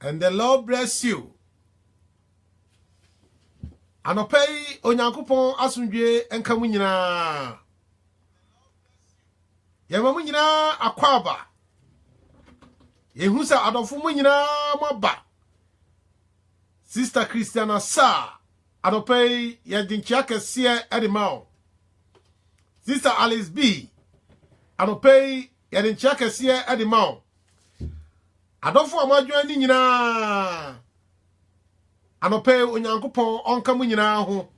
And the Lord bless you. Anɔpa yi Onyankopɔn asomdwoe nka mu nyinaa. Yɛma mu nyinaa akwaaba. Yɛhu sɛ adɔfo mu nyinaa moaba. Sister Christiana Sa, anɔpa yi yɛde nkyea kɛseɛ de ma wo. Sister Alice B, anɔpa yi yɛde nkyea kɛseɛ de ma wo. Adɔfo a moadwan ne nyinaa, anɔpɛ yi Onyankopɔn ɔnka mo nyinaa ho.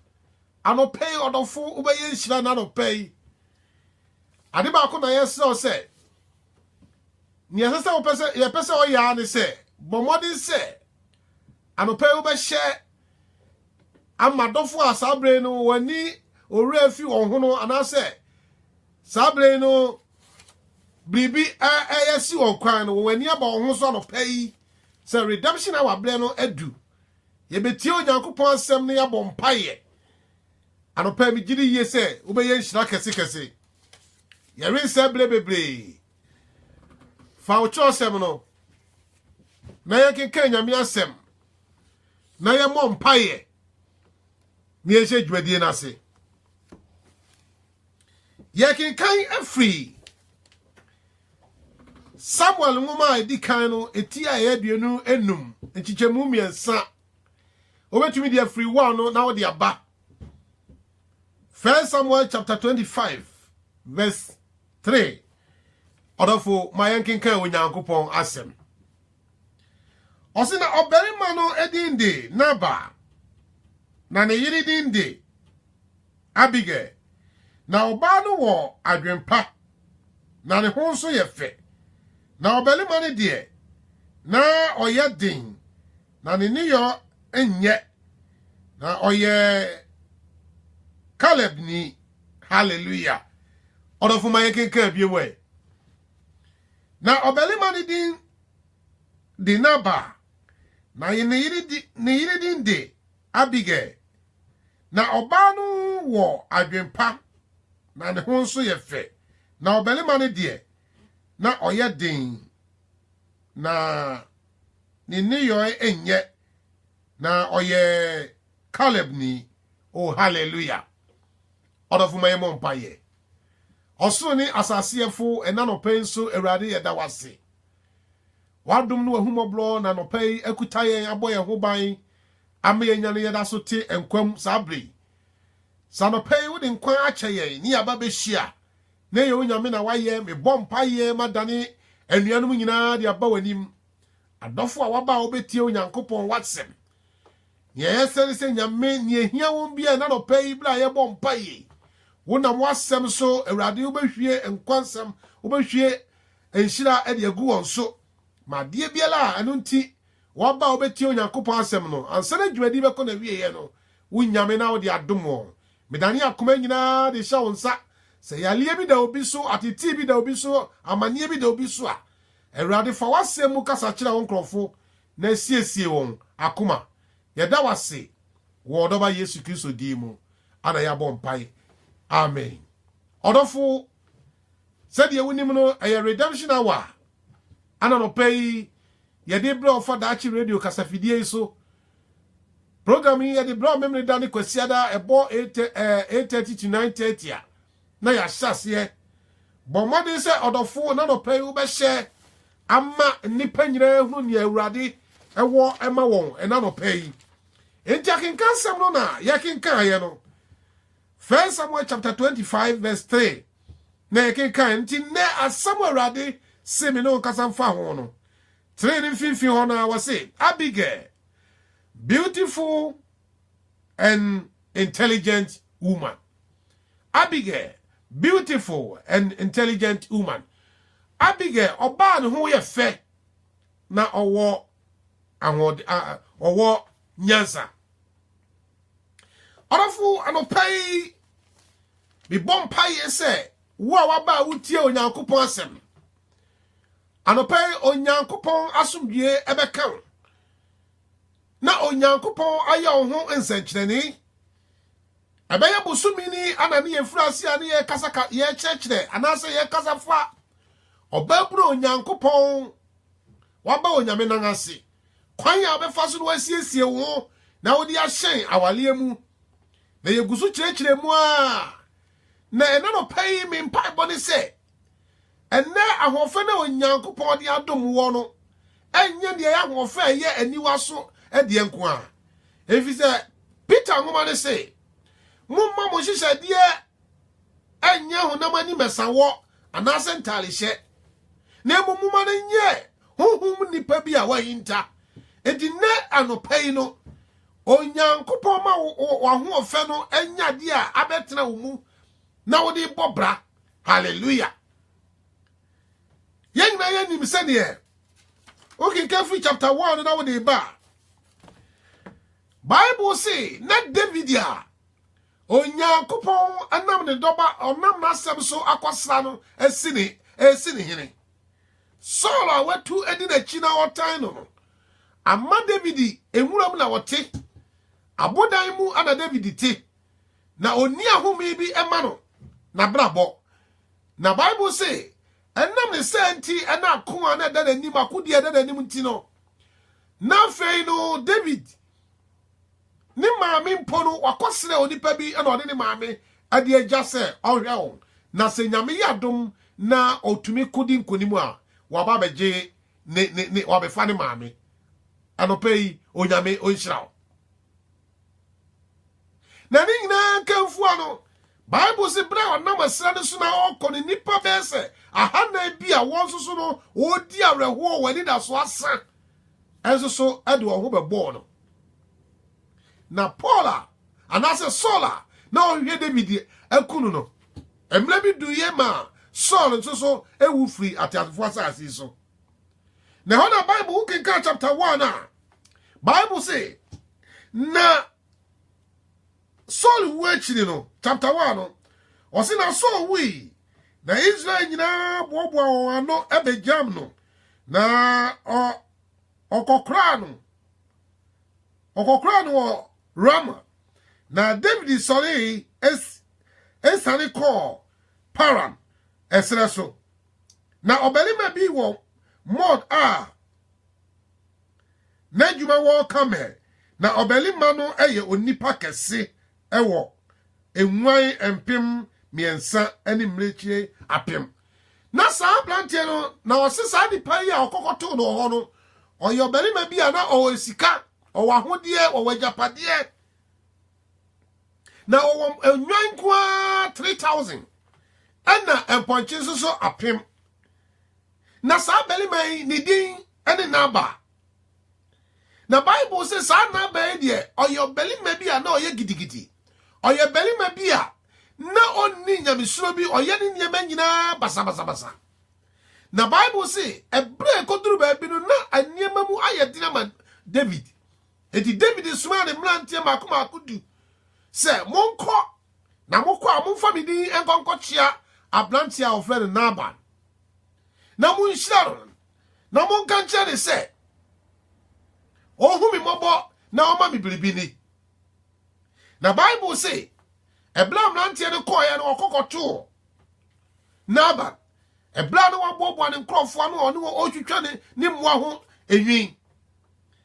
Anɔpɛ yi ɔdɔfo wobɛyɛ nhyira na anɔpɛ yi. Ade baako na yɛsrɛ wo sɛ, nea ɛsɛ sɛ wopɛ sɛ yɛpɛ sɛ ɔyɛ ara ne sɛ, bɔ mmɔden sɛ anɔpɛ yi wobɛhyɛ ama dɔfo a saa bere no wɔani owura fi wɔn ho no anaasɛ Saa bere yi no, biribi reyɛ si wɔn kwan no, wɔn ani aba wɔn ho so anɔpa yi sɛ redemption hour berɛ no adu. Yɛbɛtie Onyankopɔn asɛm na yɛabɔ mpaeɛ. Anɔpa yi megye di yie sɛ wobɛyɛ nhyira kɛsekɛse. Yɛrensɛ berɛ bebree. Fa wo kyerɛwsɛm no na yɛnkenkan Nyame asɛm na yɛmmɔ mpaeɛ na yɛnhyɛ dwumadie no ase. Yɛkenkan firi Samuel nwoma a ɛdi kan no eti a ɛyɛ aduonu enum nkyekyɛmu mmiɛnsa wobɛtumi de afiri wa no na wode aba First Samuel chapter 25 verse 3 ɔdɔfo ma yɛnkenkan Onyankopɔn asɛm ɔse na ɔbarima no din de Nabal na ne yere din de Abigail. Ná ɔbaa no wɔ adwempa, na ne ho nso yɛ fɛ. Na ɔbarima no deɛ, na ɔyɛ den, na ne nneyɔ nyɛ. Na ɔyɛ Kalebni. Hallelujah! Ɔdɔfo ma yɛnkenkan bio ɛ. Na ɔbarima no din de Nabal, na ne yere din de Abigail. Ná ɔbaa no wɔ adwempa, na ne ho nso yɛ fɛ, na ɔbarima no deɛ, na ɔyɛ den, na ne nneyɔeɛ nyɛ, na ɔyɛ Calebni. Oh, hallelujah! Ɔdɔfo ma yɛmmɔ mpaeɛ. Ɔsoro ne asase yɛfo, ɛna nɔpɛ yi nso, Awurade, yɛda wo ase. W'adom ne w'ahummɔborɔ na nɔpɛ yi akuta yɛn, abɔ yɛn ho ban, ama yɛanya no yɛda so te nkwa mu saa berɛ yi. Sɛ anɔpa yi wode nkwa akyɛ yɛn ne yɛaba bɛhyia na ɛyɛ wo Nyame na woayɛ, mebɔ mpaeɛ madane anuanom nyinaa de aba w'anim, adɔfo a wɔaba a wɔbɛtie Onyankopɔn w'asɛm. Nea ɛyɛ sɛ ne sɛ Nyame, nea ɛhia wɔn biara ɛna anɔpa yi berɛ a yɛbɔ mpaeɛ yi, wonam w'asɛm so Awurade wobɛhwie nkwa nsɛm, wobɛhwie nhyira de agu wɔn so. Ma adeɛ biara a ɛno nti Wɔba a wobetie Onyankopɔn asɛm no ansa na dwumadi bɛkɔ n'awieeɛ no, wonnya me na wode adom wɔn. Medane akoma nyinaa de hyɛ wo nsa. Sɛ yareɛ bi da obi so, atetee bi da obi so, amanneɛ bi da obi so a, Awurade, fa w'asɛm mu kasa kyerɛ wo nkurɔfo na siesie wɔn akoma. Yɛda wo ase wɔ wo Dɔba Yesu Kristo din mu na yɛabɔ mpae. Amen. Ɔdɔfo, sɛdeɛ wonim no, ɛyɛ Redemption Hour. Ana anɔpa yi yɛde rebrɛ wo fa Daakye Radio kasafidie yi so. Program yi yɛde brɛ wo Memeneda ne Kwasiada a ɛbɔ 8:30 to 9:30 a na yɛahyɛ aseɛ. Bɔ mmɔden sɛ ɔdɔfo na anɔpa yi wobɛhyɛ ama nnipa nyinaa ahunu nea Awurade wɔ ma wɔn ɛna anɔpa yi. Enti akenkansɛm no na yɛkenkaeɛ no. First Samuel chapter twenty five verse three na yɛkenkan, nti nnɛ asɛm a Awurade se me ne wo nkasa mfa ho no, train no mfimfini hɔ no ara, wɔse, Abigail, beautiful and intelligent woman. Abigail, beautiful and intelligent woman. Abigail, ɔbaa ne ho yɛ fɛ na ɔwɔ ahoɔden, ɔwɔ nyansa. Ɔdɔfo anɔpa yi mebɔ mpaeɛ sɛ wo a waba a wotie onyankopɔn asɛm no anɔpa yi onyankopɔn asomdwie ɛbɛka wo na onyankopɔn ayɛ wo ho nsɛnkyerɛnne ɛbɛyɛ bosome ni ana ne yɛfiri ase a ne yɛkasa yɛkyerɛkyerɛ anaasɛ yɛkasa fa ɔbaabunu onyankopɔn waba onyame nan ase kwan a wobɛfa so na woasiesie wo ho na wode ahyɛn awareɛ mu. Na yɛgu so kyerɛkyerɛ mu a, na ɛna nɔpa yi me mpaebɔ ne sɛ, ɛnɛ ahoɔfɛ na Onyankopɔn de adom wɔ no, ɛnyɛ deɛ ɛyɛ ahoɔfɛ a ɛyɛ aniwa so deɛ nko a. Ɛfiri sɛ Peter nwoma no se, Momma mo nhyehyɛdeɛ ɛnyɛ honam ani mɛsawɔ anaasɛ ntarehyɛ, na mmom moma no nyɛ honhom nipa bi a wahinta. Enti nnɛ anɔpa yi no, Onyankopɔn ma w'ahoɔfɛ no anya adeɛ a abɛtena wo mu na wode bɔ bra. Hallelujah. Yɛn nyinaa yɛnim sɛdeɛ wokenka firi chapter 1 no na wode ba a bible se na david a Onyankopɔn nam ne dɔba a ɔnam n'asɛm so akɔsra no asi ne resi ne hene. Saul a watu adi n'akyi na ɔtan no no ama David nwuram na ɔte. Abodan mu na David te, na onni ahome bi ma no n'abrabɔ. Na Bible se, ɛnam ne saa nti na ako a na ɛda n'anim, akodi a ɛda n'anim nti no, na afei no David Ne maame mpo no, wakɔsrɛ onipa bi na ɔde ne maame de agya sɛ ɔnhwɛ wɔn, na sɛ Nyame yɛ adom na ɔtumi ko di nkonim a, waba abɛgye ne, ne, ne, wabɛfa ne maame. Anɔpa yi, Onyame ɔnhyira wo. Na ne nyinaa nka mfua no, Bible se bere a ɔnam ɛserɛ no so na ɔrekɔ no, nnipa bɛyɛ sɛ ahanan bi a wɔn nso so no wɔredi awerɛhoɔ wɔ anidaso asa nso so de wɔn ho bɛbɔɔ no. Na Paul a anaasɛ Saul a na ɔhwehwɛ David aku no no, mmerɛ bi duiɛ maa Saul nso so ewu firi ateasefoɔ asase yi so. Na ɛhɔ na Bible wo kenkan chapter one a Bible se na Saul wu akyiri no, chapter one no, ɔse na Saul wui, na Israel nyinaa boaboa wɔn ano bɛgyam no, na ɔkɔkoraa no ɔkɔkoraa no wɔ Rama, na David sɔree esiane kɔɔ Paran ɛserɛ so, na ɔbarima bi wɔ Maon a N'adwuma wɔ Karmel, na ɔbarima no yɛ onipa kɛse wɔ nguan mpem mmiɛnsa ne mmirekyie apem. Na saa aberanteɛ no, na wɔse saa nipa yi a ɔkɔkɔtoo no wɔ hɔ no, ɔyɛ ɔbarima bi a na ɔwɔ sika, ɔwɔ ahodeɛ, ɔwɔ agyapadeɛ. Na ɔwɔ nnwan nko ara 3,000 ɛna mpɔnkye nso so apem. na saa barima yi ne din ne Nabal na bible sɛ saa Nabal yi deɛ ɔyɛ ɔbarima bi a na ɔyɛ gidigidi ɔyɛ barima bi a na ɔnni nyamesuro bi ɔyɛ ne nneɛma nyinaa basabasabasa na bible se ɛberɛ ɛkɔduru baabi no na nneɛma mu ayɛ den ama david enti david somaa ne mmeranteɛ mako mako du sɛ monkɔ na mokɔ a momfa me din nkɔnkɔkyea aberanteɛ a wɔfrɛ no Nabal na monhyira no na monka nkyerɛ ne sɛ ɔnhu me mmɔbɔ na ɔma me biribi ni na bible se ɛberɛ a mmeranteɛ no kɔeɛ no ɔkɔkɔtoo nabal ɛberɛ a na waboaboa ne nkurɔfoɔ ano ɔne wɔ ɔretwitwa ne ne mmoa ho enwi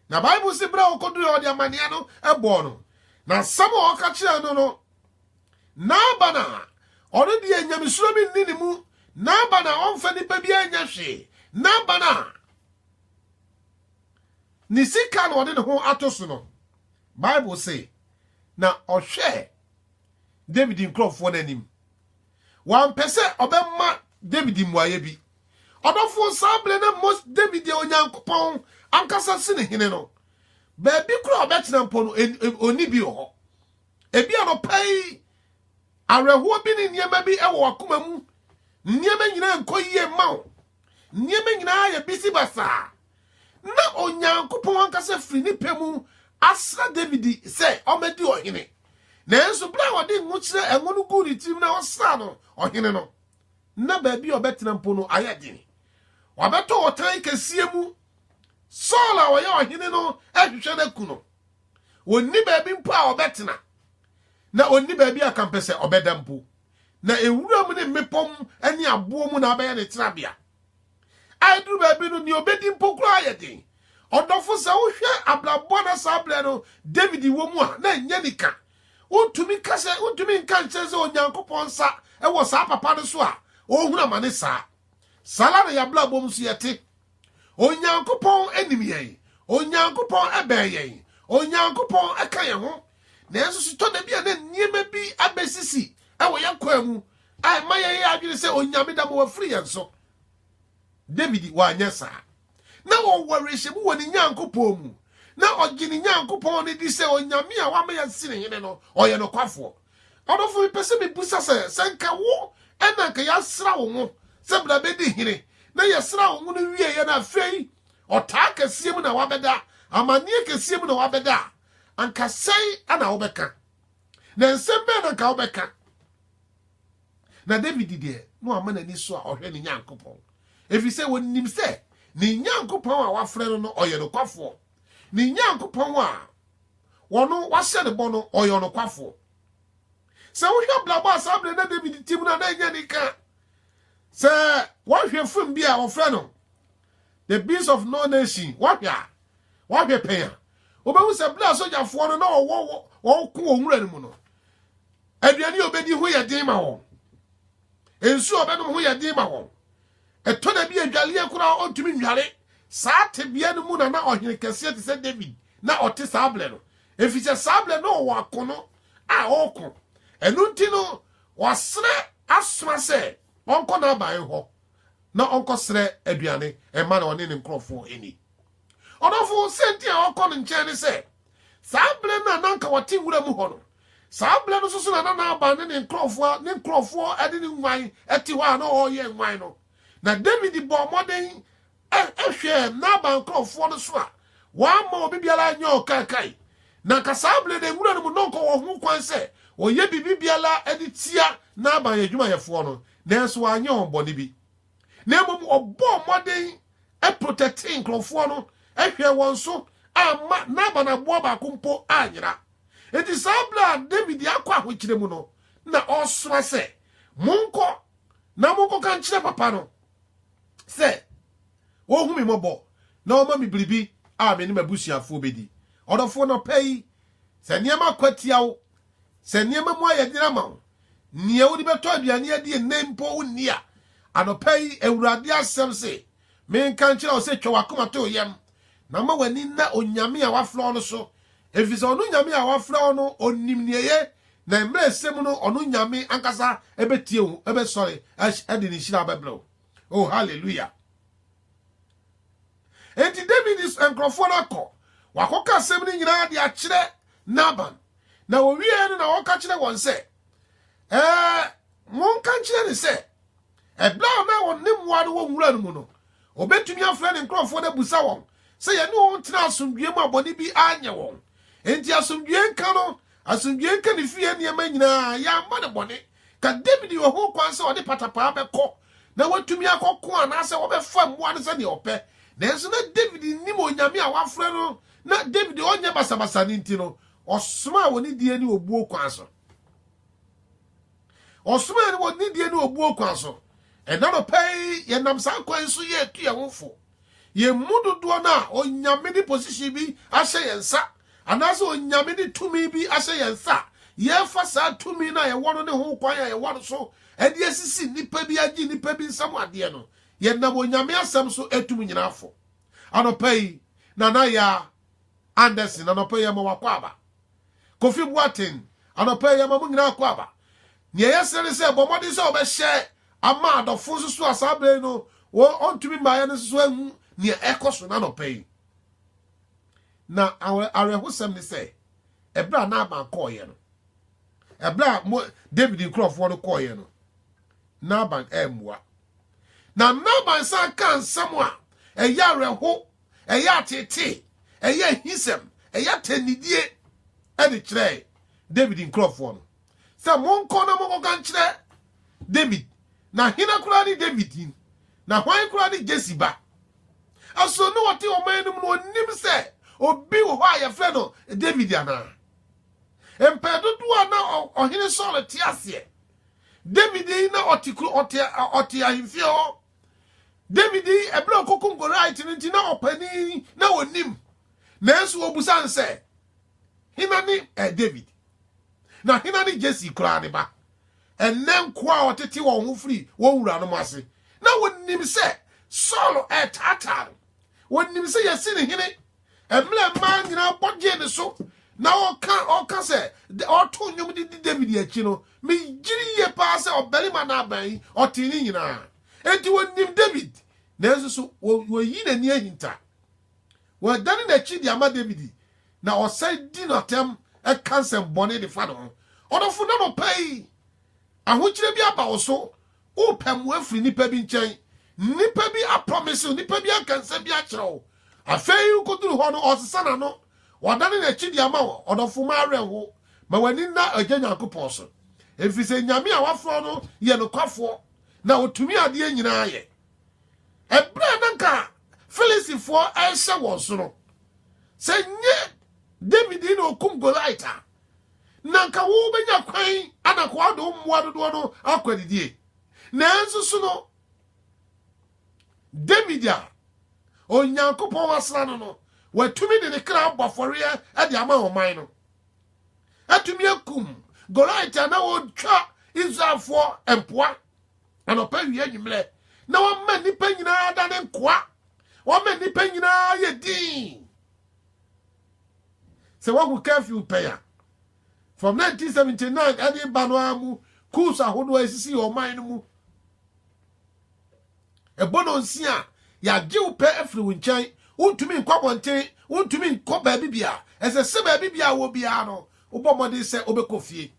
na bible se berɛ a ɔkɔdurɛ ɔde amanneɛ no ɛbɔɔ no na nsɛm a ɔka kyerɛɛ no no Naaban a ɔno deɛ nyamesuro bi nni ne mu, Naaban a ɔmfa nnipa biara nyɛ hwee, Naaban a ne sika na ɔde ne ho ato so no, Bible se, na ɔhwɛɛ David nkurɔfoɔ no anim. Wampɛ sɛ ɔbɛma David mmuaeɛ bi. Ɔdɔfoɔ saa berɛ na Mos David yɛ Onyankopɔn ankasa sene hene no. Baabi koro a ɔbɛtena mpo no, ɔnni bi wɔ hɔ. Ebi anɔpa yi, awerɛhoɔ bi ne nneɛma bi wɔ wakoma mu. Nneɛma nyinaa nkɔ yie mma wo. Nneɛma nyinaa yɛ bisi basaa. Na Onyankopɔn ankasa firi ne pɛ mu asra David sɛ ɔmmɛdi ɔhene. Nanso berɛ a ɔde ngo kyerɛ ngo no guu ne tirim na ɔsraa no ɔhene no, na baabi a ɔbɛtena mpo no ayɛ den. Wabɛtɔ ɔtan kɛseɛ mu. Saul a ɔyɛ ɔhene no rehwehwɛ no aku no. Ɔnni baabi mpo a ɔbɛtena, na ɔnni baabi a kampɛ sɛ ɔbɛda mpo. Na ewura mu ne mmepɔ mu ne aboɔ mu na abɛyɛ ne tenabea. A ɛduru baabi no, nea ɔbɛdi mpo koraa yɛ den. Ɔdɔfo, sɛ wohwɛ abrabɔ na saa berɛ no David wɔ mu a, na ɛnyɛ nika. Wontumi ka sɛ, wontumi nka nkyɛn sɛ Onyankopɔn nsa wɔ saa papa no so a ɔrehunu amane saa. Saa ara na yɛn abrabɔ mu nso yɛte. onyankopɔn nim yɛn onyankopɔn bɛn yɛn onyankopɔn ka yɛn ho nanso sotɔ da bi a na nneɛma bi abɛsisi wɔ yɛn kwan mu a ɛma yɛyɛ adwene sɛ onyame da ma wafiri yɛn so david wanyɛ saa na ɔwɔ awerɛhyɛmu wɔ ne nyankopɔn mu na ɔgye ne nyankopɔn no di sɛ onyame a wama yɛasi ne hene no ɔyɛ nokwafoɔ Ɔdɔfo mepɛ sɛ mebusa sɛ, sɛ nka wo ɛna nka yɛasra wo ngo sɛ bra bɛdi hene, na yɛsra wo ngo no wieɛ na afei ɔtaa kɛseɛ mu na wabɛda, amanneɛ kɛseɛ mu na wabɛda a, anka sɛn ana wobɛka? Na nsɛm bɛn na nka wobɛka? Na David deɛ, na wama n'ani so a ɔhwɛ ne Nyankopɔn, ɛfiri sɛ wɔnim sɛ ne Nyankopɔn a wafrɛ no no ɔyɛ nokwafoɔ, ne Nyankopɔn a Ɔno, wɔahyɛ no bɔ no, ɔyɛ ɔnokwafoɔ. Sɛ wohwɛ abrabɔ a saa berɛ na David te mu no a, na ɛnyɛ anika. Sɛ wɔhwɛ fim bi a wɔfrɛ no The Beast of No Nation, wɔhwɛ a, wɔhwɛ pɛn a, wobɛhu sɛ berɛ a sogyafoɔ no na wɔwɔ wɔko wɔ nwura no mu no, aduane a wɔbɛdi ho yɛ den ma wɔn. nsuo a ɔbɛnom ho yɛ den ma wɔn. Ɛtɔ da bi a adwaleɛ koraa ɔntumi nnware. Saa tebea no mu na na ɔhene kɛseɛ te sɛ David na ɔte saa berɛ no, ɛfiri sɛ saa berɛ na ɔwɔ akono a ɔreko. Ɛno nti no, wɔasrɛ asoma sɛ ɔnkɔ n'aban hɔ na ɔnkɔsrɛ aduane mma no ɔne ne nkurɔfoɔ nni. Ɔdɔfo, sɛ nti a ɔkɔ no nkyɛn ne sɛ, Saa berɛ no a na anka wɔte nwura mu hɔ no, saa berɛ no nso so na na Nabal ne ne nkurɔfoɔ ne nkurɔfoɔ de ne nnwan te hɔ a na ɔreyɛ nnwan no. Na Dawid bɔɔ mmɔden hwɛɛ Nabal nkurɔfoɔ no so a wɔamma obi biara anyɛ ɔkaakae. Na anka saa berɛ no nwura no mu na ɔnkɔ wɔ ho kwan sɛ ɔyɛ biribi biara de tia Nabal adwumayɛfoɔ no, nanso wanyɛ wɔn bɔne bi. Na mmom ɔbɔɔ mmɔden protɛtee nkurɔfoɔ no, hwɛɛ wɔn so, amma Nabal aboa baako mpo anyera. Enti saa berɛ a Dawid akɔ ahokyerɛ mu no, na ɔresoma sɛ, Monkɔ na monkɔka nkyerɛ papa no sɛ ɔnhu me mmɔbɔ na ɔmma me biribi a me ne m'abusuafoɔ bɛdi. Ɔdɔfoɔ, nɔpa yi, sɛ nneɛma kɔ atia wo Sɛ nneɛma mu ayɛ den ama wo, nea wode bɛtɔ aduane adi nnɛ mpo wonni a, anɔpa yi Awurade asɛm se, menka nkyerɛ wo sɛ twa w'akoma to yam, na ma w'ani nna Onyame a wafrɛ wo no so, efisɛ ɔno Nyame a wafrɛ wo no onim nea eye, na mmerɛ a ɛsɛ mu no ɔno Nyame ankasa bɛtie wo, bɛsɔre de ne nhyira bɛbrɛ wo. Oh, hallelujah! Enti Dawid nkurɔfoɔ no akɔ, wɔakɔka asɛm no nyinaa de akyerɛ Nabal, na wɔwieeɛ no na wɔka kyerɛ wɔn sɛ, Ɛɛ, monka nkyerɛ no sɛ, ɛberɛ a na wɔn ne mmoa no wɔ nwura no mu no, ɔbɛtumi afrɛ ne nkurɔfoɔ no abusa wɔn sɛ yɛne wɔn tena asomdwoeɛ mu a bɔne bi anyɛ wɔn. Enti asomdwoeɛ nka no, asomdwoeɛ nka ne fie nneɛma nyinaa, yɛamma no bɔne. Ka Dawid wɔ hokwan sɛ ɔde patapaa bɛkɔ na watumi akɔko anaasɛ wɔbɛfa mmoa no sɛnea ɔpɛ. Nanso na Dawid nnim Onyame a wafrɛ no na Dawid ɔnyɛ basabasa no nti no, ɔsomaa wɔ nidie ne obuo kwan so. Ɔsomaa no wɔ nidie ne obuo kwan so. Ɛnnɛ anɔpa yi, yɛnam saa kwan yi so yɛ retu yɛn ho fo. Yɛn mu dodoɔ no a Onyame de position bi ahyɛ yɛn nsa, anaasɛ Onyame de tumi bi ahyɛ yɛn nsa a, yɛfa saa tumi no a yɛwɔ no ne ho kwan a yɛwɔ no so de asisi nnipa bi agye nnipa bi nsam adeɛ no, yɛnam Onyame asɛm so atum nyina afɔ. Anɔpa yi, Nana Yaa Anderson, anɔpa yi yɛma wakɔ aba. Kofi Boateng, Anɔpa yi, yɛma mo nyinaa akɔ aba. Nea ɛyɛ sene ne sɛ, bɔ mmɔden sɛ wobɛhyɛ ama adɔfo nso so a saa berɛ yi no wɔntumi mmaeɛ no nso so ahu nea ɛkɔ so no anɔpa yi. Na awerɛhosɛm ne sɛ, ɛberɛ a Naaman kɔɔeɛ no, ɛberɛ a mo David nkurɔfoɔ no kɔɔeɛ no, Naaman ammua. Na Naaman san kaa nsɛm a ɛyɛ awerɛho ɛyɛ ateetee, ɛyɛ ahisɛm, ɛyɛ atɛnnidie de kyerɛɛ Dawid nkurɔfoɔ no sɛ, Monkɔ na monkɔka nkyerɛ Dawid, na hena koraa ne Dawid yi, na hwan koraa ne Jesse ba? Ɛsono ne wɔte ɔman no mu no ɔnnim sɛ obi wɔ hɔ a yɛfrɛ no Dawid anaa? Mpɛn dodoɔ a na ɔhene Saul te aseɛ, Dawid yi na ɔte ahemfie hɔ David yi ɛberɛ a ɔkɔkum Goliath no nti na ɔpanin na ɔnim nanso wɔbusa no sɛ hena ne eh, David na hena ne Jesse koraa ne ba ɛnɛ nkoa a ɔtete wɔn ho firi wɔn wuranom ase na wɔnim sɛ Saul ɛretaataa no wɔnim sɛ yɛsi ne hene mmerɛ mmaa nyinaa bɔ gyee ne so na ɔka ɔka sɛ ɔto nnwom de di david akyi no megyere yie paa sɛ ɔbarima no aban yi ɔtee ne nyinaa enti wɔnim david nanso so wɔyi n'ani ahinta wɔdane n'akyi de ama david na ɔsan di no atɛm ɛka nsɛm bɔne de fa ne ho ɔdɔfo na nɔpɛ yi ahokyerɛ bi aba wo so Wopɛ mmoa afiri nnipa bi nkyɛn. Nnipa bi aprɔmese wo, nnipa bi aka nsɛm bi akyerɛ wo. Afei wokoduru hɔ no, ɔsesa n'ano, ɔdane n'akyi de ama wo. Ɔdɔfo, ma awerɛhow, ma w'ani nna Agya Nyankopɔn so, efisɛ Nyame a wafrɛ wo no yɛ nokwafoɔ, na otumi adeɛ nyinaa yɛ. Ɛberɛ a na anka Filistifoɔ rehyɛ wɔn so no, sɛ nyɛ David na okum Goliat a, na anka wobɛnya kwan ana kɔɔdo wo mmoa dodoɔ no akɔ adidie nanso so no damidi a onyankopɔn wasra no no watumi de ne kra abɔ afɔreɛ de ama ɔman no atumi akum goliat a na wɔtwa israelfoɔ mpoa anɔpa wie anwummerɛ na wɔma nnipa nyinaa da ne nkoa wɔma nnipa nyinaa yɛ din Sɛ woahu curfew pɛn a from 1979 ɛde ba no ara mu coups ahodoɔ a ɛsisii ɔman no mu, ɛbɔ no nsi a yɛagye wo pɛ afiri wo nkyɛn, wontumi nkɔ abɔnten, wontumi nkɔ baabi bia, ɛsɛ sɛ baabi bia a wɔ biara no wobɔ mmɔden sɛ wobɛkɔ fie.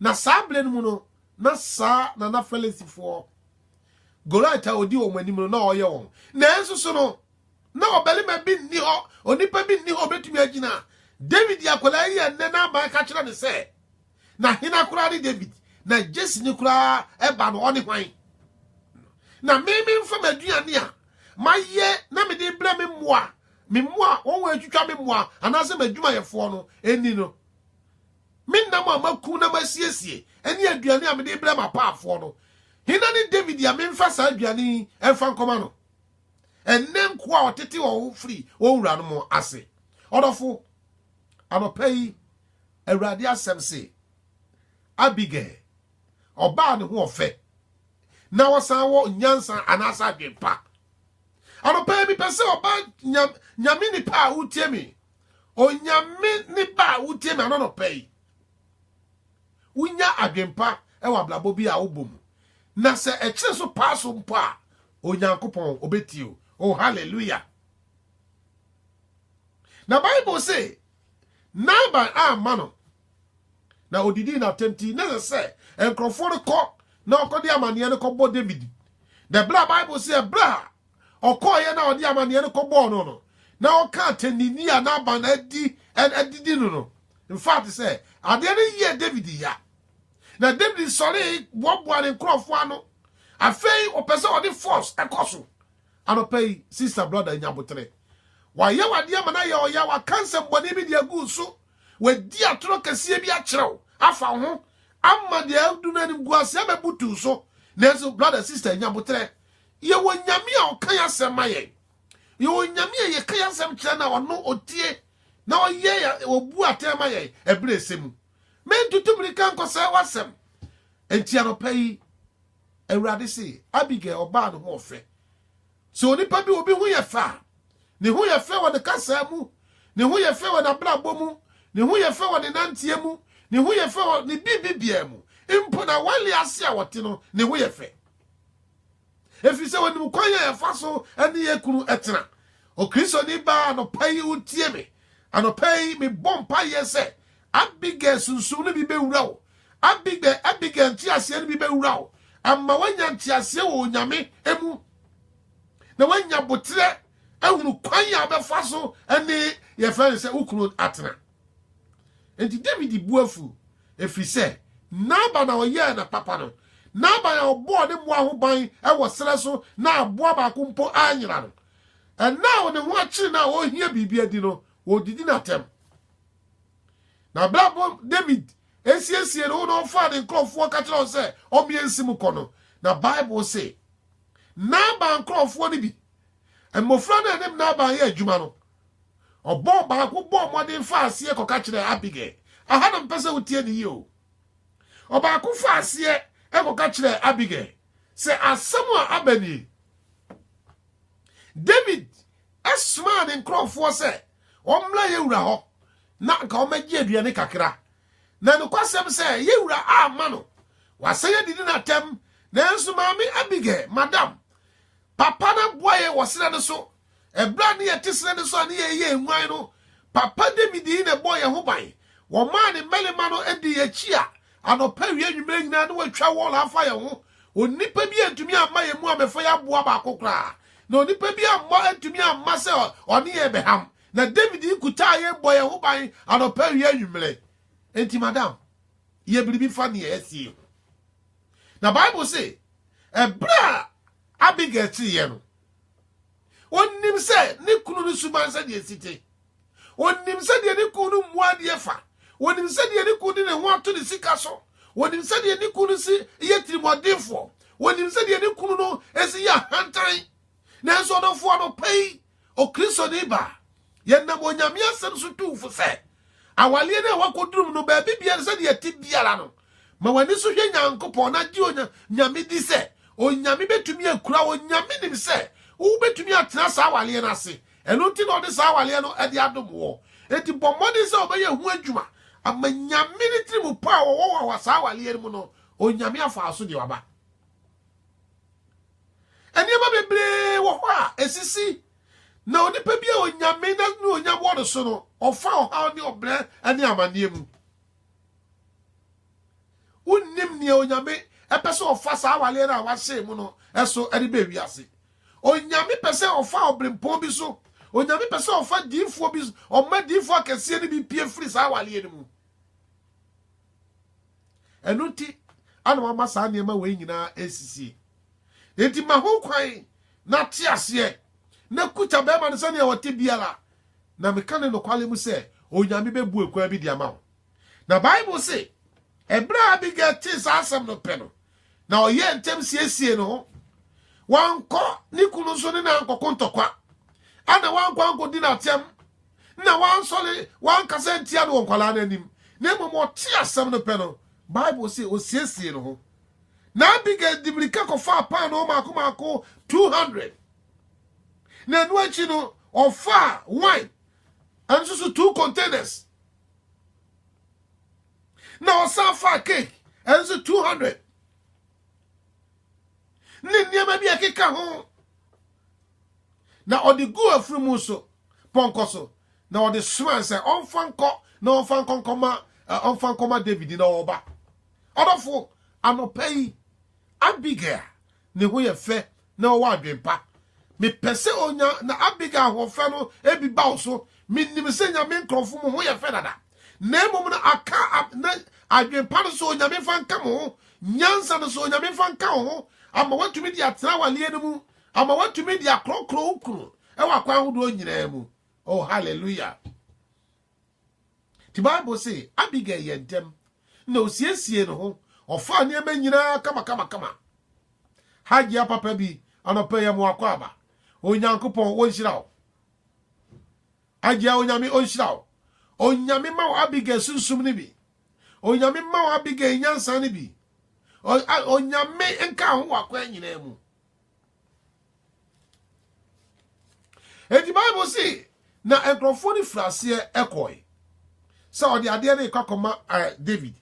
Na saa berɛ no mu no, na saa na na Philistifoɔ Goliath a ɔdi wɔn anim no na ɔyɛ wɔn. Nanso so no, Ná ɔbarima bi nni hɔ, onipa bi nni hɔ a obetumi agyina David akwadaa yi a ɛnnɛ n'aban ka kyerɛ no sɛ, Na hena koraa ne David? Na Jesse ne koraa ɛba no, ɔne hwan? Na me memfa m'aduane a mayɛ na mede brɛ me mmoa, me mmoa wɔn a atwitwa me mmoa anaasɛ m'adwumayɛfoɔ no nni no. Me nam a makum na masiesie ne aduane a mede brɛ m'apaafoɔ no, hena ne David a memfa saa aduane yi mfa nkɔma no? ɛne nkoa a ɔtete wɔn ho firi wɔn wuranom ase. Ɔdɔfo, anɔpa yi, Awurade asɛm se, Abigail, ɔbaa ne ho ɔfɛ, na ɔsan wɔ nyansa anaasɛ adwempa. Anɔpa yi, mepɛ sɛ ɔbaa nyam, nyame nipa a wotie me, onyame nipa a wotie me anɔnɔpa yi, wonya adwempa wɔ abrabɔ bi a wobɔ mu. Na sɛ ɛkyerɛ so paa so mpo a, Onyankopɔn ɔbɛtie o. Oh, hallelujah. Na Bible se, Naaban amma no na ɔdidii n'atɛm ti na ɛsɛ sɛ nkurɔfoɔ no kɔ na ɔkɔde amanneɛ no kɔbɔ David. Na ɛberɛ a Bible se ɛberɛ a ɔkɔɔeɛ na ɔde amanneɛ no kɔbɔɔ no no, na ɔka atɛnini a Naaban adi adidi no no. In fact sɛ adeɛ no yɛɛ David ya. Na David sɔree boaboa ne nkurɔfoɔ ano. Afei ɔpɛ sɛ ɔde force ɛkɔ so. Anɔpa yi, sister brother nya aboterɛ. Wayɛ wo adeɛ ama no ayɛ ɔya, waka nsɛmmɔne bi de agu wo so, wadi atorɔ kɛseɛ bi akyerɛ wo afa wo ho ama deɛ adu no animguaseɛ abɛbutu wo so. Nanso brother, sister nya aboterɛ. Yɛwɔ Nyame a ɔka yɛn asɛm ma yɛn. Yɛwɔ Nyame a yɛka yɛn asɛm kyerɛ no a ɔno ɔtie na ɔyɛ yɛn, ɔbu atɛn ma yɛn ɛberɛ a ɛsɛ mu. Mentutu mmirika nkɔsɛe w'asɛm. Enti anɔpa yi, Awurade se, Abigail, ɔbaa no ho ɔfɛ. Sɛ onipa bi obi ho yɛ fɛ a, ne ho yɛ fɛ wɔ ne kasaa mu, ne ho yɛ fɛ wɔ n'abrabɔ mu, ne ho yɛ fɛ wɔ ne nanteɛ mu, ne ho yɛ fɛ wɔ ne biribi biara mu. Mpo na wali ase a ɔte no, ne ho yɛ fɛ. Ɛfiri sɛ ɔnim kwan a yɛfa so ne yɛn kunu tena. Okristoni baa anɔpa yi wotie me. Anɔpa yi mebɔ mpaeɛ sɛ Abigail sunsum no bi bɛwura wo. Abigail Abigail nteaseɛ no bi bɛwura wo. Ama woanya nteaseɛ wɔ Onyame mu. Na woanya boterɛ ahunu kwan a wobɛfa so ne yɛfrɛ no sɛ wo kunu atena. Enti Dawid bo afu, ɛfiri sɛ Nabal a ɔyɛɛ no papa no, Nabal a ɔbɔɔ ne mmoa ho ban wɔ serɛ so na aboa baako mpo anyera no, ɛnna a ne ho akyere no a ɔrehia biribi adi no, ɔredidi no atɛm. Na berɛ a Dawid asiesie ne ho na ɔfaa ne nkurɔfoɔ ka kyerɛ wɔn sɛ ɔmeɛ nsi mu kɔ no, na Bible se Nabal nkurɔfoɔ no bi, mmɔfra no a ɛne Nabal yɛ adwuma no, Ɔbɔɔ baako bɔɔ mmɔden faa aseɛ kɔka kyerɛɛ Abigail. Aha na mpɛ sɛ wotie ne yie o. Ɔbaako faa aseɛ kɔka kyerɛɛ Abigail sɛ asɛm a aba nie. David somaa ne nkurɔfoɔ sɛ wɔmmra yɛn wura hɔ na nka wɔmmɛgye aduane kakra. Na nokwasɛm sɛ yɛn wura amma no, wasan adidi no atɛm. Nanso maame Abigail, madam, papa no aboa yɛn wɔ serɛ no so Ɛberɛ a ne yɛte serɛ no so a ne yɛyɛ nguan no, Papa David yi na ɛbɔɔ yɛn ho ban. Wɔmaa ne mmarima no dii yɛn akyi a, anɔpa, awia, anwummerɛ nyinaa na wɔatwa wɔɔl afa yɛn ho. Onipa bi antumi amma yɛn mu ammɛfa yɛn aboa baako koraa, na onipa bi ammɔ antumi amma sɛ ɔne yɛn bɛham. Na David yi kutaa yɛn bɔ yɛn ho ban anɔpa, awia, anwummerɛ. Enti, madam, yɛ biribi fa nea asi yi ho. Na Bible se, ɛberɛ a Abigail kyereeɛ no, ɔnim sɛ ne kunu no suban sɛdeɛ ɛsi te ɔnim sɛdeɛ ne kunu no mmoa adeɛ fa ɔnim sɛdeɛ ne kunu de ne ho ato ne sika so ɔnim sɛdeɛ ne kunu no si yɛ tirimɔdenfoɔ ɔnim sɛdeɛ ne kunu no si yɛ ahantan nanso ɔdɔfoɔ no pɛ yi ɔkristoni baa Yɛnam Onyame asɛm so tu fo sɛ awaleɛ no a wakɔdurum no baabi biara sɛdeɛ ɛte biara no ma w'ani so hwɛ Nyankopɔn na gye Onyame di sɛ Onyame bɛtumi akura wo. Nyame nim sɛ wobɛtumi atena saa awaleɛ no ase, ɛno nti na ɔde saa awaleɛ no de adom woɔ. Enti bɔ mmɔden sɛ wobɛyɛ ho adwuma ama Nyame ne tirimu pa a wɔwɔ wɔ saa awaleɛ no mu no Onyame afa wo so de waba. Nneɛma bebree wɔ hɔ a esisi na onipa bi a onyame na ne onyam wɔ no so no, ɔfa ɔhaw ne ɔbrɛ ne amanneɛ mu. Wonnim nea onyame pɛ sɛ ɔfa saa awaleɛ no a wahyɛ mu no so de bɛ wiase. Onyame pɛ sɛ ɔfa ɔbrempɔn bi so. Onyame pɛ sɛ ɔfa diifoɔ bi so. Ɔma diifoɔ akɛseɛ no bi pie firi saa awaleɛ no mu. Ɛno nti na wama saa nneɛma wei nyinaa resisie. Enti ma ho kwan na te aseɛ na kuta bɛrima no sɛnea ɔte biara. Na meka ne nokwale mu sɛ, Onyame bɛbu ɛkwan bi de ama wo. Na Bible se, ɛberɛ a Abigail tee saa asɛm no pɛ no, Na ɔyɛɛ ntɛm siesiee ne ho. Wankɔ ne kunu nso ne no ankɔko ntɔkwa, ana wankɔ ankɔdi no atɛm, na wansɔre wankasa ntia no wɔ nkwadaa no anim, na mmom ɔte asɛm no pɛ no, Bible se ɔsiesiee ne ho. Na Abigail de mmirika kɔfaa paanoo mmaako mmaako 200, na ɛno akyi no, ɔfaa wine ɛno nso so two containers. na ɔsan faa cake ɛno nso two hundred ne nneɛma bi a ɛkeka ho na ɔde gu afiri mu so pɔnkɔ so na ɔde somaa sɛ ɔmfa nkɔ na ɔmfa nkɔnkɔma ɔmfa nkɔma david na ɔba ɔdɔfo anɔpa yi abigail ne ho yɛ fɛ na ɔwɔ adwenpa. Mepɛ sɛ onya, na Abigail ahoɔfɛ no bi ba wo so. Menim sɛ Nyame nkorɔfo mo ho yɛ fɛ dada, na mmom no aka a na adwenpa no sɛ Onyame mfa nka mo ho, nyansa no sɛ Onyame mfa nka wo ho, ama woatumi de atena awaleɛ no mu, ama woatumi de akorɔkorɔ wo kunu wɔ akwan ahodoɔ nyinaa mu. Oh, hallelujah! Enti Bible se, Abigail yɛɛ ntɛm na osiesiee ne ho, ɔfaa nneɛma nyinaa kamakamakama. Hajia papa bi, anɔpa yi mo akwaaba. Onyankopɔn onhyira wo. Hajia Onyame onhyira wo. Onyame ma wo Abigail sunsum no bi. Onyame ma wo Abigail nyansa no bi. Onyame nka ho wakwan nyinaa mu. Enti Bible se na nkurɔfoɔ no firi aseɛ kɔe sɛ ɔde adeɛ no rekɔ akɔma eh, David.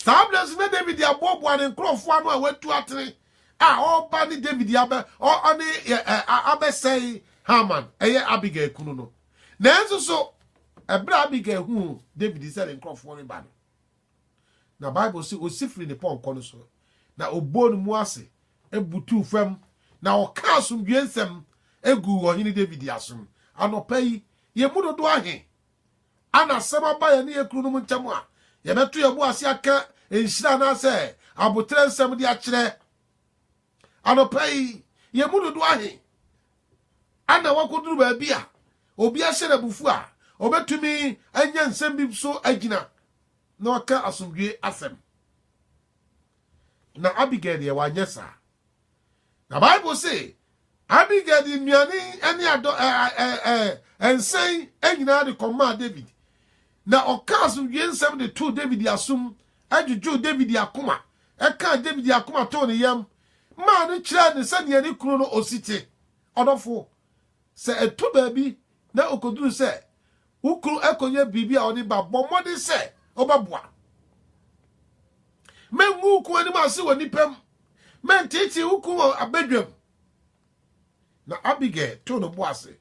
Saa berɛ nso na David aboaboa ne nkurɔfoɔ ano a watu atene a ɔreba ne David abɛ ɔne eh, eh, abɛsɛe Haman ɛyɛ Abigail kunu no. Nanso so ɛberɛ a Abigail huu David sɛ ne nkurɔfoɔ reba no, Na Bible se osi firii ne pɔnkɔ no so, na ɔbɔɔ ne mu ase butuu fam, na ɔkaa asomdwoeɛ nsɛm guu ɔhene David asom. Anɔpa yi, yɛn mu dodoɔ ahe a na asɛm aba yɛne yɛn kununom ntam a yɛbɛto yɛn bo ase aka nhyira anaasɛ aboterɛ nsɛm de akyerɛ? Anɔpa yi, yɛn mu dodoɔ ahe na wɔakɔduru baabi a obi ahyɛ no abufuo a ɔbɛtumi anya nsɛm bi so agyina na waka asomdwoeɛ asɛm? Na Abigail deɛ wanyɛ saa. Na Bible se Abigail de nnuane ne adɔ nsɛn nyinaa de kɔmaa David. Na ɔkaa so wiee nsɛm de too Dawid asom, dwudwoo Dawid akoma, kaa Dawid akoma too ne yam, maa no kyerɛɛ no sɛdeɛ ne kunu no osi te. Ɔdɔfo, sɛ ɛtɔ baabi na ɔkɔduru sɛ wo kunu akɔnya biribi a ɔde ba, bɔ mmɔden sɛ wobɛboa. Mɛngu wo kunu anim ase wɔ nnipa mu, mɛnteetee wo kunu wɔ abadwam. Na Abigail too ne bo ase,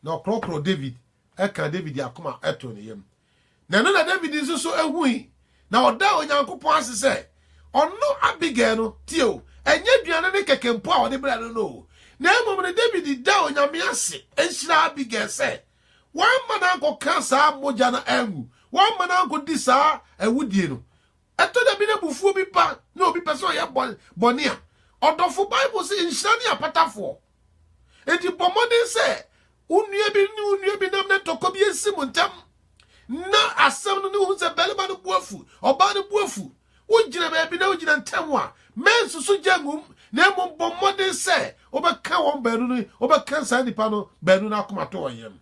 na ɔkorɔkorɔɔ Dawid Ɛkaa Dawid akoma too ne yam, na ɛno na Dawid nso so hui, na ɔdaa Onyankopɔn ase sɛ ɔno Abigail no. Tie o, ɛnyɛ aduane ne kɛkɛ mpo a ɔde brɛɛ no no o, na mmom no Dawid daa Onyame ase hyiraa Abigail sɛ wamma no ankɔka saa mogya no angu, wamma no ankɔdi saa awudie no. Ɛtɔ da bi na abufuo bi ba na obi pɛ sɛ ɔyɛ bɔne a, ɔdɔfo, Bible se nhyira ne apatafoɔ. Enti bɔ mmɔden sɛ wo nua bi ne wo nua bi nam na ntɔkwa bi ansi mo ntam, na asɛm no ne wohu sɛ barima no bo afu, ɔbaa no bo afu, wogyina baabi na wogyina ntam a, mɛnsusu gya ngum, na mmom bɔ mmɔden sɛ wobɛka wɔn baanu no, wobɛka saa nnipa no baanu no akomatɔyam.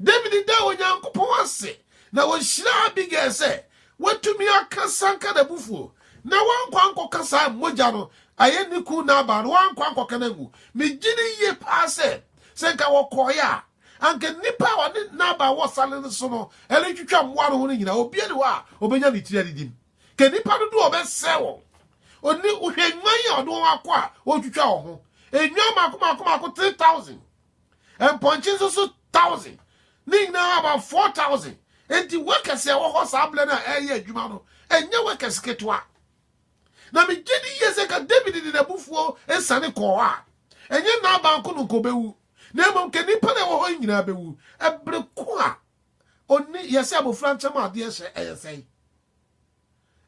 Dawid daa Onyankopɔn ase na ɔhyiraa Abigail sɛ watumi aka sanka n'abufuo na wankɔ ankɔka saa mogya no ayɛ ne kun Nabal no, wankɔ ankɔka no angu. Megye di yie paa sɛ, sɛ nka wɔkɔeɛ a, anka nnipa a ɔne Nabal wɔ sare no so no retwitwa mmoa no ho no nyinaa, obiara ni hɔ a ɔbɛnya ne tiri adidim. Ka nnipa dodoɔ a ɔbɛsɛe wɔn. Ɔne wohwɛ nnwan a ɔde wɔn akɔ a ɔretwitwa wɔn ho. Nnwan mmaako mmaako mmaako 3,000. mpɔnkye nso so thousand ne nyinaa about four thousand nti workers a ɛwɔ hɔ saa berɛ no a ɛreyɛ adwuma no ɛnyɛ workers ketewa na megye di yie sɛ ka david de n'abufuo nsane kɔɔ hɔ a ɛnyɛ naaban ko no nka ɔbɛwu na mmom ka nnipa na ɛwɔ hɔ nyinaa bɛwu ɛbere ko a ɔni yɛsɛ abɔfra nkyɛm adeɛ hyɛ ɛyɛ sɛe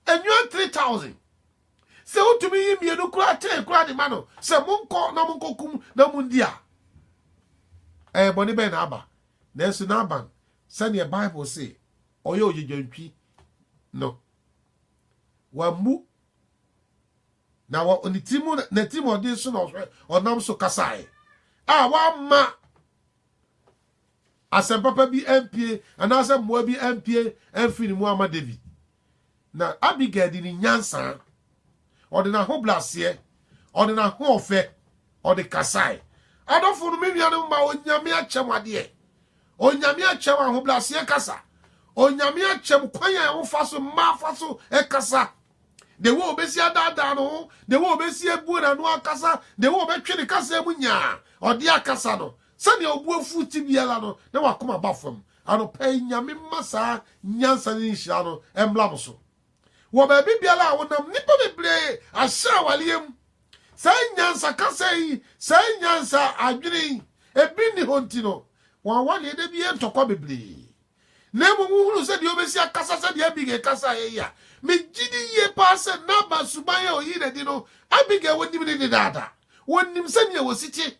Nnwan three thousand. Sɛ wotumi yi mmienu koraa ten koraa de ma no sɛ monkɔ na monkɔkum na mondi a, ɛyɛ bɔne bɛn na aba? Nanso Naaban, sɛdeɛ Bible se ɔyɛ ogyedwantwi no, wammu na wɔ ne tirim n'atirimɔden so na ɔnam so kasae a wamma asɛm papa bi ampue anaasɛ mmoa bi ampue amfiri ne mu amma David. Na Abigail de ne nyansa, ɔde n'ahobrɛaseɛ, ɔde n'ahoɔfɛ, ɔde kasae. Adɔfo no, me nuanom ma Onyame akyɛm adeɛ. Onyame akyɛm ahobrɛaseɛ kasa. Onyame akyɛm kwan a wofa so mmaa fa so kasa. The way obesi adaadaa no ho, the way obesi ebuo n'ano akasa, the way obɛtwe ne kasa mu nyaa, ɔde akasa no, Sɛnea obu afuw te biara no, na w'akoma ba fam. Anɔpa yi, Nyame mma saa nyansa ne nhyira no mmra mo so. Wɔ baabi biara a wonam, nnipa bebree ahyɛ awareɛ mu. Saa nyansa kasa yi, saa nyansa adwene yi, ebi nni hɔ nti no, wɔn awareɛ da bi yɛ ntɔkwa bebree. Na mmom wohunu sɛ deɛ ɔbɛsi akasa sɛdeɛ Abigail kasaeɛ yi a, megye di yie paa sɛ Nabal suban a ɔyii no adi no, Abigail wɔnim no dedaada. Wɔnim sɛdeɛ wɔsi te.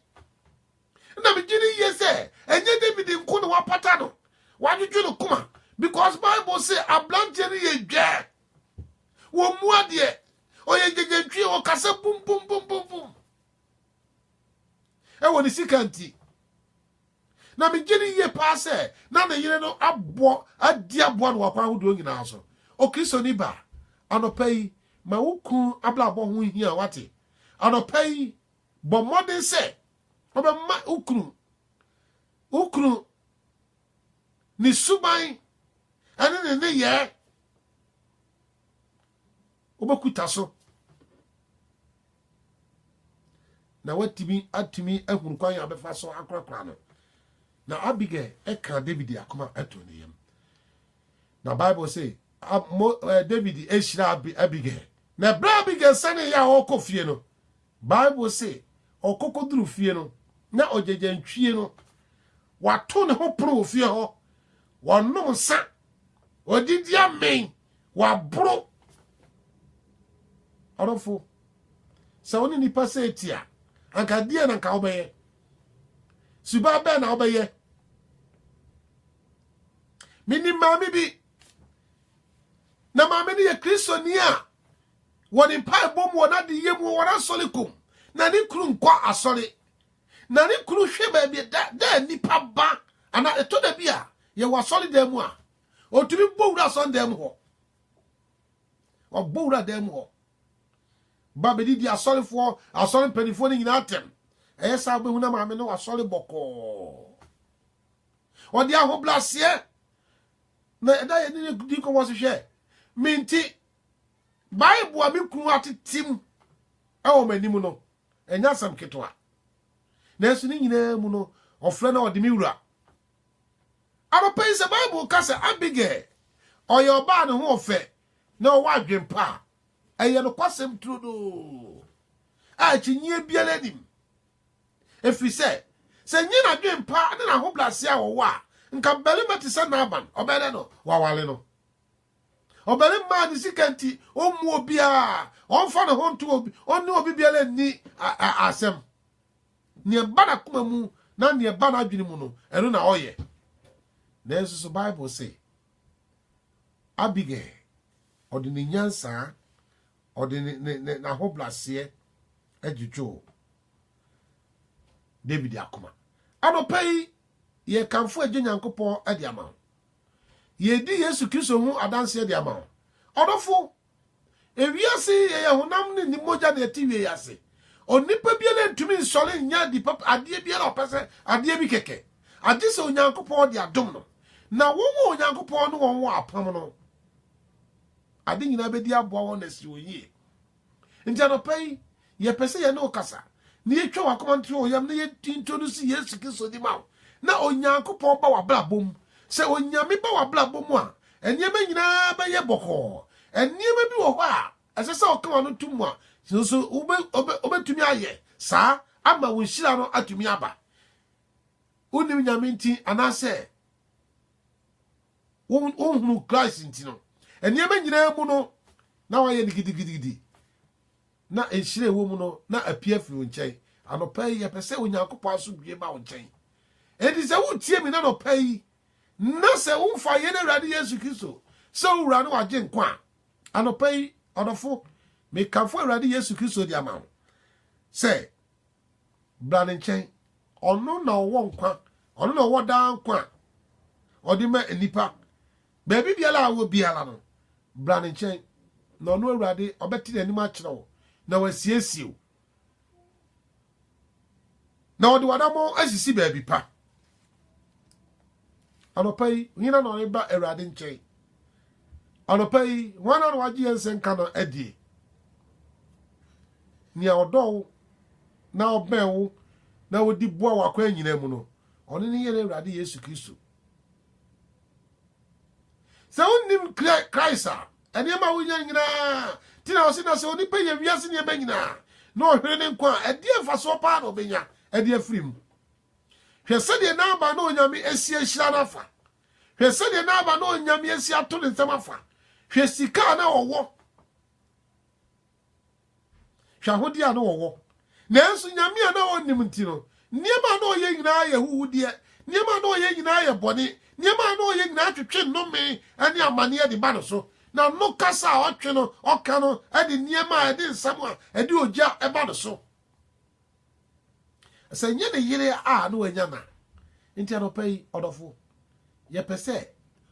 na megye no yie sɛ ɛnyɛ david nko na wapata no wadwodwo no koma because bible se aberanteɛ no yɛ dwɛɛ wɔ mu adeɛ ɔyɛ gyagyantwie ɔkasa bumbumbumbumbum ɛwɔ ne sika nti na megye no yie paa sɛ na ne yere no abɔ adi aboa no wakwan ahodoɔ nyinaa so okristoni ba anɔpa yi ma wo kun abrabɔ ho hia wate anɔpa yi Bɔ mmɔden sɛ wobɛma wo kunu wo kunu ne suban ne ne nneyɛɛ wobɛkuta so na watumi atumi ahunu kwan a bɛfa so akorakora no na abigail ɛka david akoma ɛto ne yam na bible sɛ eh, david ɛhyira abigail na ɛberɛ abigail sane yɛ a ɔkɔ fie no Bible se, Ɔkɔ kɔduru fie no, na ogyagyanntwie no, wato ne ho pono wɔ fie hɔ, wɔnom nsa, wɔdidi amen, wɔaboro. Ɔdɔfo, sɛ wo ne nipa sɛ eti a, anka deɛ na anka wobɛyɛ? Suban bɛn na wobɛyɛ? Menim maame bi, na maame no yɛ Kristoni a Wɔn mpaebɔ mu, wɔn adeyɛ mu, wɔn asɔre kɔ mu. Na ne kunu nkɔ asɔre. Na ne kunu hwɛ baabi da da nipa ba anaa ɛtɔ da bi a yɛwɔ asɔre dan mu a ɔtumi bɔ wura asɔre dan mu hɔ. Ɔbɔ wura dan mu hɔ. Ba bɛdidi asɔrefoɔ, asɔre mpanimfoɔ no nyinaa atɛm. Ɛyɛ saa wobɛhu na maame no asɔre bɔkɔɔ. Ɔde ahobraseɛ na ɛda yɛne ne di nkɔmmɔ so hwɛ. Mente Bible a me kunu atetem wɔ m'anim no, ɛnyɛ asɛm ketewa. Nanso ne nyinaa mu no, ɔfrɛ na ɔde me wura. Anɔpa yi sɛ Bible ka sɛ Abigail ɔyɛ ɔbaa ne ho ɔfɛ na ɔwɔ adwene pa a, ɛyɛ nokwasɛm turodoo a akyinnyeɛ biara nim. Ɛfiri sɛ, sɛ nyɛ n'adwene pa ne n'ahobrɛaseɛ a ɔwɔ a, nka barima te sɛ Naaman, ɔbɛyɛ dɛ no waware no. Ɔbarima a ne sika nti ɔmmu obiara, ɔmfa ne ho nto obi, ɔne obi biara nni asɛm. Nea ɛba n'akoma mu na nea ɛba n'adwene mu no, ɛno na ɔyɛ. Nanso so Bible se, Abigail, ɔde ne nyansaa, ɔde n'ahobraseɛ adwudwoo David akoma. Anɔpa yi, yɛkamfo Agya Nyankopɔn de ama wo. Yɛredi Yesu Kristo ho adanseɛ de ama wo. Ɔdɔfo, ewiase yi yɛyɛ honam ne ne mogya na ɛte wiei ase. Onipa biara ntumi nsɔre nyɛ ade papa adeɛ biara a ɔpɛ sɛ adeɛ bi kɛkɛ, agye sɛ Onyankopɔn de adom no. Na wɔn a Onyankopɔn ne wɔn wɔ apam no, ade nyinaa bɛdi aboa wɔn na asi wɔn yie. Enti anɔpa yi, yɛpɛ sɛ yɛne wo kasa, na yɛtwa w'akoma no to ɔyam, na yɛintroduce Yesu Kristo di ma wo, na Onyankopɔn ba w'abrabɔ mu. Sɛ Onyame ba w'abrabɔ mu a, nneɛma nyinaa bɛyɛ bɔkɔɔ. Nneɛma bi wɔ hɔ a ɛsɛ sɛ ɔka w'ano to mu a, nso wobɛtumi ayɛ saa ama wo nhyira no atumi aba. Wonim Nyame nti anaasɛ Wonhunuu Christ nti no, nneɛma nyinaa mu no, na wayɛ no gidigidigidi, na nhyira ɛwɔ mu no, na apia firi wo nkyɛn. Anɔpa yi, yɛpɛ sɛ Onyankopɔn asomdwie ba wo nkyɛn. Enti sɛ wotie me n'anɔpa yi, na sɛ womfa yɛn Awurade Yesu Kristo sɛ owura ne wagye nkwa a, anɔpa yi, ɔdɔfo, mekamfo Awurade Yesu Kristo de ama wo sɛ Bra ne nkyɛn. Ɔno na ɔwɔ nkwa. Ɔno na ɔwɔ daa nkwa a ɔde ma nnipa. Baabi biara a wɔ biara no, bra ne nkyɛn. Na ɔno Awurade, ɔbɛte n'anim akyerɛ wo, na wasiesie wo. Na ɔde w'adammɔn asisi baabi pa. Anɔpa yi, hena na ɔreba Awurade nkyɛn? Anɔpa yi, hwana na wagye yɛn nsɛnka no adie? Nea ɔdɔ wo na ɔbɛn wo na ɔdi boa wo akwan nyinaa mu no, ɔno ne yɛn Awurade Yesu Kristo. Sɛ wonnim Christ a, nneɛma a wonya nyinaa ti na ɔse na sɛ onipa yɛ wiase nneɛma nyinaa na ɔhwere ne nkwa a, ɛdeɛ mfasoɔ paa na ɔbɛnya ɛde afiri mu? Hwɛ sɛdeɛ n'aba na Onyame asi ahyira no afa! Hwɛ sɛdeɛ n'aba na Onyame asi ato ne nsam afa! Hwɛ sika a na ɔwɔ! Hwɛ ahodeɛ a na ɔwɔ! Nanso Nyame a na ɔnnim nti no, nneɛma a na ɔyɛ nyinaa yɛ huhudeɛ, nneɛma a na ɔyɛ nyinaa yɛ bɔne, nneɛma a na ɔyɛ nyinaa twetwe nnome ne amaneɛ de ba no so. Na no kasa a ɔtwe no, ɔka no de nneɛma a ɛde nsam a ɛde ogya ba no so. Sɛ nyɛ ne yere a na wanya na. Nti anɔpa yi, ɔdɔfo, yɛpɛ sɛ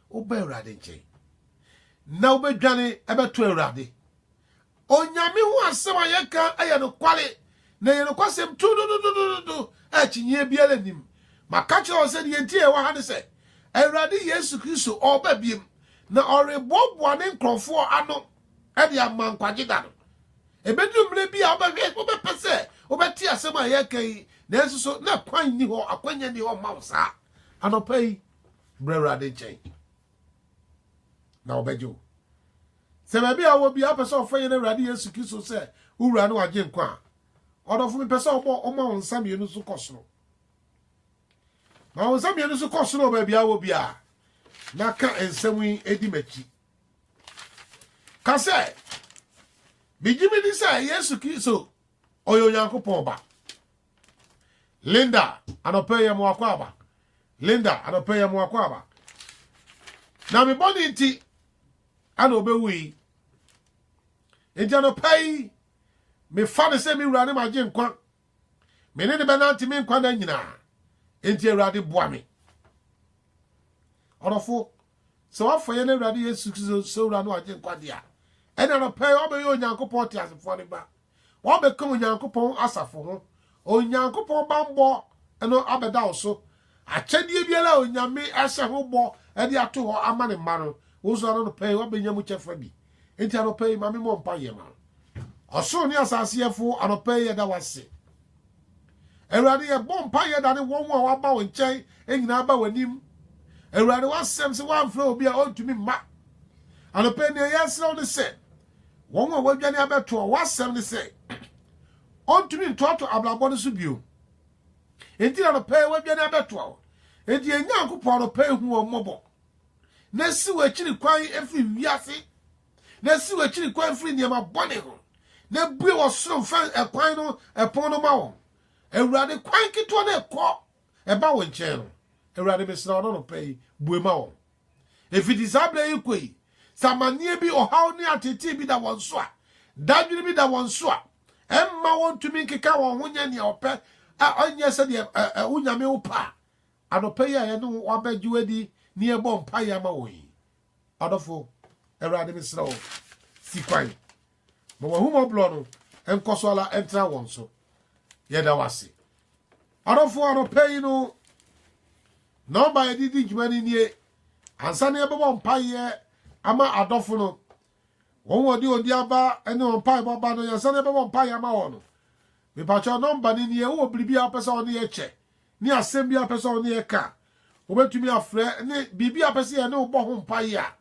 woba Awurade nkyɛn na wobɛdwane ɛbɛto Awurade. Onyame ho asɛm a yɛka ɛyɛ no kwale, na ɛyɛ no kwasɛm tudududududu a akyinnyeɛ biara nnim. Maka kyerɛ wo sɛ deɛ nti a ɛwɔ ha ne sɛ, Awurade Yesu Kristo ɔreba biem, na ɔreboaboa ne nkurɔfoɔ ano de ama nkwagye da no. Ebedu mmere bi a wobɛhwɛ, wobɛpɛ sɛ wobɛte asɛm a yɛreka yi, nanso so na kwan nni hɔ, akwanya nni hɔ mma wo saa? Anɔpa yi, bra Awurade nkyɛn na ɔbɛgye wo. Sɛ baabi a wɔ bi apɛ sɛ ɔfrɛ yɛn Awurade Yesu Kristo sɛ wo wura ne wagye nkwa a, ɔdɔfo mepɛ sɛ ɔbɔ ɔma wo nsa mmienu so kɔ soro. Ma wo nsa mmienu so kɔ soro baabi a wɔ biara na ka nsɛm yi di m'akyi. ka sɛ megye medi sɛ yesu kristo ɔyɛ onyankopɔn ba linda anɔpɛ yɛ moakɔ aba linda anɔpɛ yɛ moakɔ aba na me bɔne nti ana ɔbɛwu yi nti anɔpɛ yi mefa no sɛ me wura ne magye nkwa Me ne no bɛnante me nkwa nna nyinaa. Enti Awurade boa me. Ɔdɔfo, sɛ wafa yɛn Awurade Yesu Kristo sɛ Owura no agye nkwagye a, ɛna no pɛɛ ɔbɛyɛ Onyankopɔn teasefoɔ no ba. Ɔbɛka Onyankopɔn asafo ho. Onyankopɔn bammɔ no abɛda wo so Akyɛdeɛ biara a Onyame ahyɛ ho bɔ de ato hɔ ama Ne mma no, wo nso anɔpa yi wabɛnya mu kyɛfa bi. Enti anɔpa yi, ma me mmɔ mpaeɛ ma wo. Ɔsoro ne asase Yɛfo, anɔpa yi yɛda wo ase. Awurade, yɛbɔ mpaeɛ da ne wɔn a waba wo nkyɛn nyinaa ba w'anim. Awurade, w'asɛm sɛ woamfrɛ obi a ɔntumi mma. Anɔpa yi, nea yɛsrɛ wo ne sɛ, wɔn a wɔadwane abɛtoɔ, w'asɛm ne sɛ, ɔntumi ntoatoa abrabɔ no so bio. Enti na anɔpa yi wadwane abɛtoa wo. Enti yɛn Nyankopɔn anɔpa yi hu wɔn mmɔbɔ, na si w'akyiri kwan firi wiase, na si w'akyiri kwan firi nneɛma bɔne ho, na bue w'ɔsoro mfɛn ɛkwan no ɛpono no ma wɔn. Awurade, kwan ketewa no ɛkɔ ɛba wo nkyɛn no, Awurade, mesrɛ wo, anɔpa yi, bue ma wɔn. Ɛfiti saa berɛ yi kɔ yi, sɛ amanneɛ bi, ɔhaw ne ateetee bi da wɔn so a, dadwene bi da wɔn so a, ɛmma wɔntumi nkeka wɔn ho nyɛ nea ɔpɛ a ɔnyɛ sɛdeɛ wo Nyame wo pɛ a, anɔpa yi a yɛne wo abɛgye wadi ne yɛbɔ mpaeɛ ama wɔn yi, ɔdɔfo, Awurade mesrɛ wo, si kwan. Ma w'ahummɔborɔ no nkɔ so ara ntra wɔn so. Yɛda w'ase. Ɔdɔfoɔ anɔpa yi no, nɔmba a yɛde di dwuma no nie. Ansa na yɛbɛbɔ mpaeɛ ama adɔfo no, wɔn wɔde odi aba ne wɔn mpaebɔ aba no, yɛnsa na yɛbɛbɔ mpaeɛ ama wɔn no. Mepakyɛ nɔmba no nie, wowɔ biribi a wopɛ sɛ ɔne yɛ kyɛ ne asɛm bi a wopɛ sɛ ɔne yɛ ka, wobɛtumi afrɛ ne biribi a wopɛ sɛ yɛne wobɔ ho mpaeɛ a,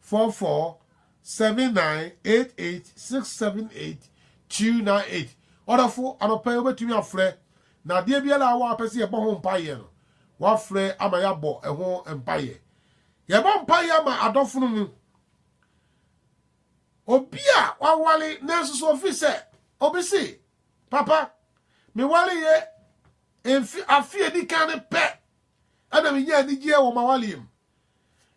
four four seven nine eight eight six seven eight two nine eight ɔdɔfo anɔpa yi wobɛtumi afrɛ na adeɛ biara a wɔ apɛ sɛ yɛbɔ ho mpaeɛ no wafrɛ ama yɛabɔ ɛho mpaeɛ yɛbɔ mpaeɛ ama adɔfo no mu obi a wawale nanso so ofi sɛ obi se papa mewale yɛ mfe afe edi kan ne pɛ ɛna menya anigyeɛ wɔ m'awaleɛ mu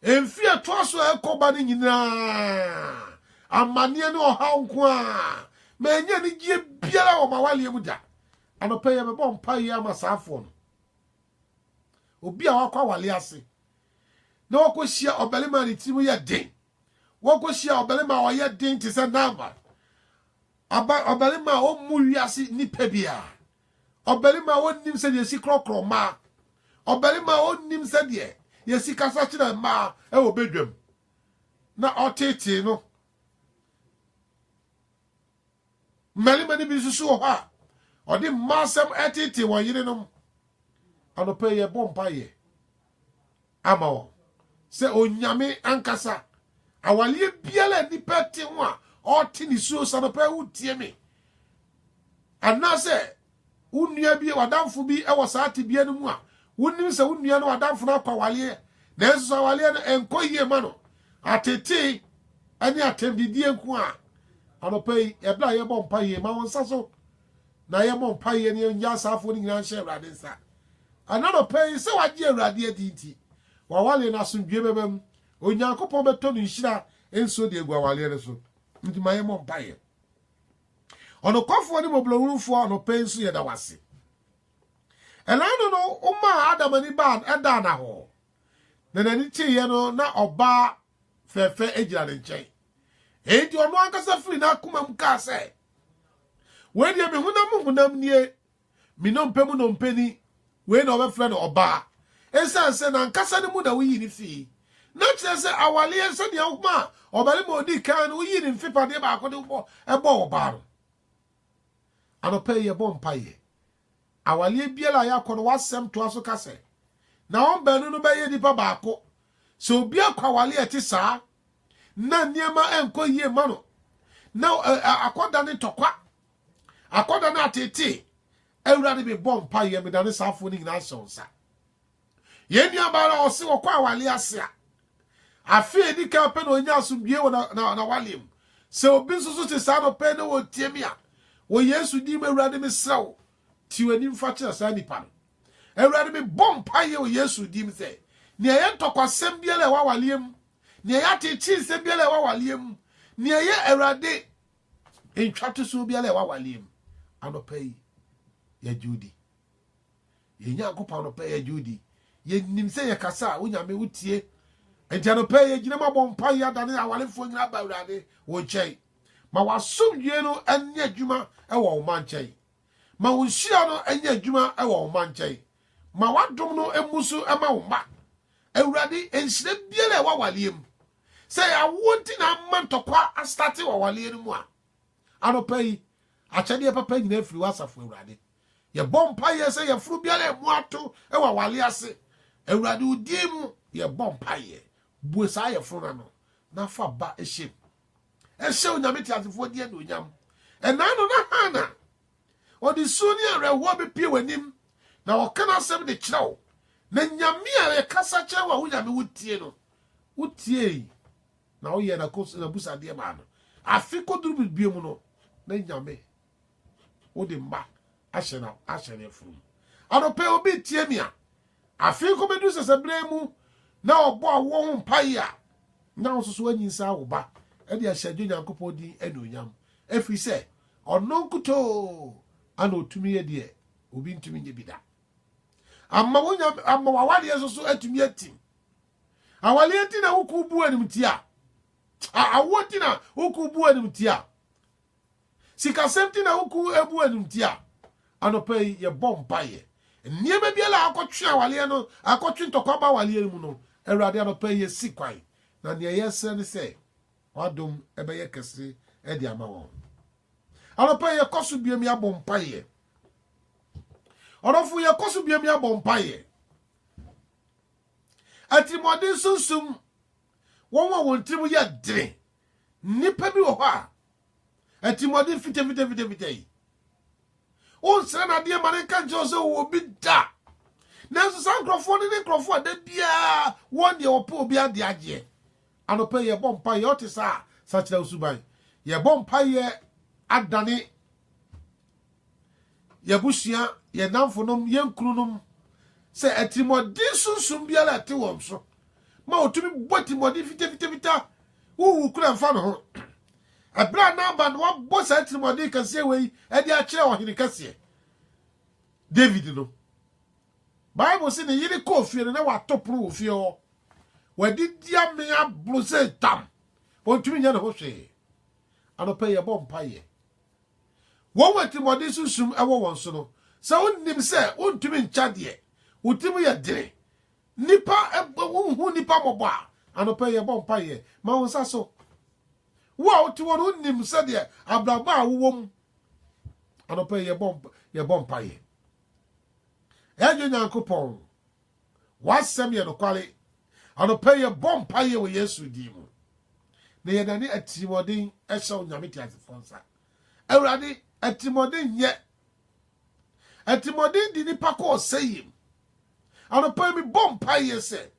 Mfe a ɛtoa so a ɛkɔ ba no nyinaa, amanneɛ ne ɔhaw nko a. Mannya anigyeɛ biara wɔ m'awaleɛ mu da. Anɔpa yi yɛbɛbɔ mpaeɛ ama saa afoɔ no. Obi a wakɔ awaleɛ ase na wakɔhyia ɔbarima a ne tirim yɛ den, wakɔhyia ɔbarima a ɔyɛ den te sɛ Nabal, ɔbarima a ɔmmu wiase nnipa biara, Ɔbarima a ɔnnim sɛdeɛ yɛsi korɔkorɔ mmaa. Ɔbarima a ɔnnim sɛdeɛ yɛsi kasa kyerɛ mmaa wɔ badwam na ɔtetee no. Mmarima no bi nso so wɔ hɔ a ɔde mmaa asɛm ɛtetee wɔn yerenom. Anɔpa yi yɛbɔ mpaeɛ. ama wɔn. Sɛ Onyame ankasa a, awaleɛ biara a nipa te ho a ɔte ne suo sa no pɛ wotie me. Anaasɛ wo nua bi, w'adamfo bi wɔ saa tebea no mu a, wonim sɛ wo nua no w'adamfo no akɔ awaleɛ, nanso sɛ awaleɛ no ɛnkɔ yie ma no, atetee ne atɛmdidie nko a. Anɔpa yi, ɛberɛ a yɛbɔ mpa yie, ma wo nsa so. na yɛmmɔ mpaeɛ na yɛnyi asaafoɔ no nyinaa nhyɛ Awurade nsa. Ɛna anɔpa yi, sɛ wagye Awurade adi nti, w'awaleɛ no asomdwie bɛba mu. Onyankopɔn bɛtɔ ne nhyira nsuo de agu awaleɛ no so. Nti ma yɛmmɔ mpaeɛ. Ɔnokwafoɔ ne mmɔborɔhunufoɔ, anɔpa yi nso yɛda wo ase. Ɛna ano no, womaa Adam ani baa ɛdaa no ahɔ, na n'ani kyeeɛ no, na ɔbaa fɛɛfɛ gyina ne nkyɛn. Enti ɔno ankasa firi n'akomam kaa sɛ, wei deɛ me honam mu honam nie me nnompe mu nnompe ni wei na ɔbɛfrɛ no ɔbaa ɛsiane sɛ nankasa no mu na woyii ne fii na kyerɛ sɛ awaleɛ sɛdeɛ woma a ɔbarima ɔdi kan no woyii ne mfepadeɛ baako de wobɔ ɛbɔ ɔbaa no anɔpa yi yɛbɔ mpaeɛ Awareɛ biara a yɛakɔ no, w'asɛm toa so ka sɛ, Na wɔn baanu no bɛyɛ nnipa baako. Sɛ obi akɔ awareɛ a ɛte saa na nneɛma nkɔ yie mma no, na akɔdane ntɔkwa, akɔdane ateetee, Awurade mebɔ mpaeɛ, medane saafoɔ no nyinaa hyɛ wo nsa. Yɛn nuabaa no a ɔse ɔkɔ awale ase a, afe a edi kan pɛ na onyaa asomdwoe wɔ n'awale mu. Sɛ obi nso so te saa na ɔpɛ na ɔretie me a, wɔ Yesu din mu, Awurade, mesrɛ wo, ti w'anim fa kyerɛ saa nipa no. Awurade, mebɔ mpaeɛ wɔ Yesu din mu sɛ, nea ɛyɛ ntɔkwasɛm biara a ɛwɔ awaleɛ mu, nea ɛyɛ ateekyee nsɛm biara a ɛwɔ awaleɛ mu, nea ɛyɛ Awurade ntwatosoɔ biara a ɛwɔ awaleɛ mu, anɔpa yi, yɛgye wo di. Yɛn Nyankopɔn anɔpa yi yɛgye wo di. Yɛnim sɛ yɛkasa a, wo Nyame wotie. Enti anɔpa yi yɛgyina mu abɔ mpa yi adane awarefoɔ nyina aba Awurade wo nkyɛn. Ma w'asomdwie no nyɛ adwuma wɔ wo ma nkyɛn. Ma wo nhyira no nyɛ adwuma wɔ wo ma nkyɛn. Ma w'adom no mmu so ma wo mma. Awurade nhyira biara ɛwɔ awaleɛ mu. Sɛ yɛ awoɔ nti na ama ntɔkwa astate wɔ awaleɛ no mu a, anɔpa yi akyɛdeɛ papa nyina afiri w'asafo Awurade. Yɛbɔ mpaeɛ sɛ yafunu biara ɛmu ato wɔ awale ase. Awurade wo din mu yɛbɔ mpaeɛ. Bue saa yafunu no ano na fa ba hyɛ mu. Ɛhyɛ Onyame teasefoɔ di anuonyam. Ɛnaa no na Hana ɔde su ne awerɛhoɔ bɛpie w'anim na ɔka n'asɛm de kyerɛ wo. Na Nyame a ɛkasa kyerɛ wo a wo Nyame wo tie no, wo tiee na woyɛɛ n'abusadeɛ maa no. Afe kɔduru biribiemu no na Nyame wode mma ahyɛ na ahyɛ ne afuru mu anɔpɛ obi tie mi a afei kɔbɛduru sɛsɛberɛ mu na ɔbɔ awoɔ ho mpaeɛ a na wo soso anyinsa awo ba ɛde ahyɛ adwo nyankopɔn din anuonyam ɛfiri sɛ ɔno nkutoo ana ɔtumi yɛ deɛ obi ntumi nyɛ bi da ama wo nyam ama wawaleɛ nso so atumi atim awaleɛ ti na woku bu anim ti a awoɔ ti na woku bu anim ti a Sikasɛm nti na wo kuw abu ɛ no nti a, anɔpa yi yɛbɔ mpaeɛ. Nneɛma biara a akɔtwe awareɛ no, akɔtwe ntɔkwa ba awareɛ no mu no, Awurade anɔpa yi yɛsi kwan. Na nea yɛsrɛ ne sɛ w'adom bɛyɛ kɛse de ama wɔn. Anɔpa yi yɛkɔ so biam yɛabɔ mpaeɛ. Ɔdɔfo yɛkɔ so biam yɛabɔ mpaeɛ. Atirimuɔden sunsum wɔn a wɔn tirim yɛ den. Nnipa bi wɔ hɔ a, atirimuɔden fitafitafitafita yi, wonsrɛ no adeɛ ma no nka nkyerɛ wo sɛ wowɔ obi da. Nanso saa nkurɔfoɔ no ne nkurɔfoɔ a da biara wɔn deɛ wɔpɛ obi adeɛ agyeɛ. Anɔpa yi yɛbɔ mpaeɛ, ɔte saa a, sakyera wo suban. Yɛbɔ mpaeɛ adane yɛn abusua, yɛn nnamfonom, yɛn kununom, sɛ atirimmɔden sunsum biara a ɛte wɔn so ma wɔtumi bɔ atirimmɔden fitafitafita huhu kura mfa no ho. Ɛberɛ a Naaban wabɔ saa atirimmɔden kɛseɛ wei de akyerɛ ɔhene kɛseɛ David no, Bible se ne yere kɔɔ fie no na wato pono wɔ fie hɔ. Wadidi ame aboro sɛ tam. Ɔntumi nyɛ ne ho hwee. Anɔpa yi yɛbɔ mpaeɛ. Wɔn a atirimuɔden sunsum wɔ wɔn so no, sɛ wonnim sɛ wontumi nkya deɛ wo tirim yɛ dene, nnipa wonhu nnipa mmɔbɔ a, anɔpa yi yɛbɔ mpaeɛ ma wo nsa so. Wo a wote hɔ no wonnim sɛdeɛ abrabɔ a wowɔ mu, anɔpa yi yɛbɔ mpaeɛ. Ɛnyɛ Nyankopɔn. W'asɛm yɛ nokware. Anɔpa yi yɛbɔ mpaeɛ wɔ Yesu din mu, na yɛdane atirimuɔden hyɛ wo Nyame teasefoɔ nsa. Awurade, atirimuɔden nyɛ. Atirimuɔden di nipa kɔ ɔsɛeɛ mu. Anɔpa yi mebɔ mpaeɛ sɛ,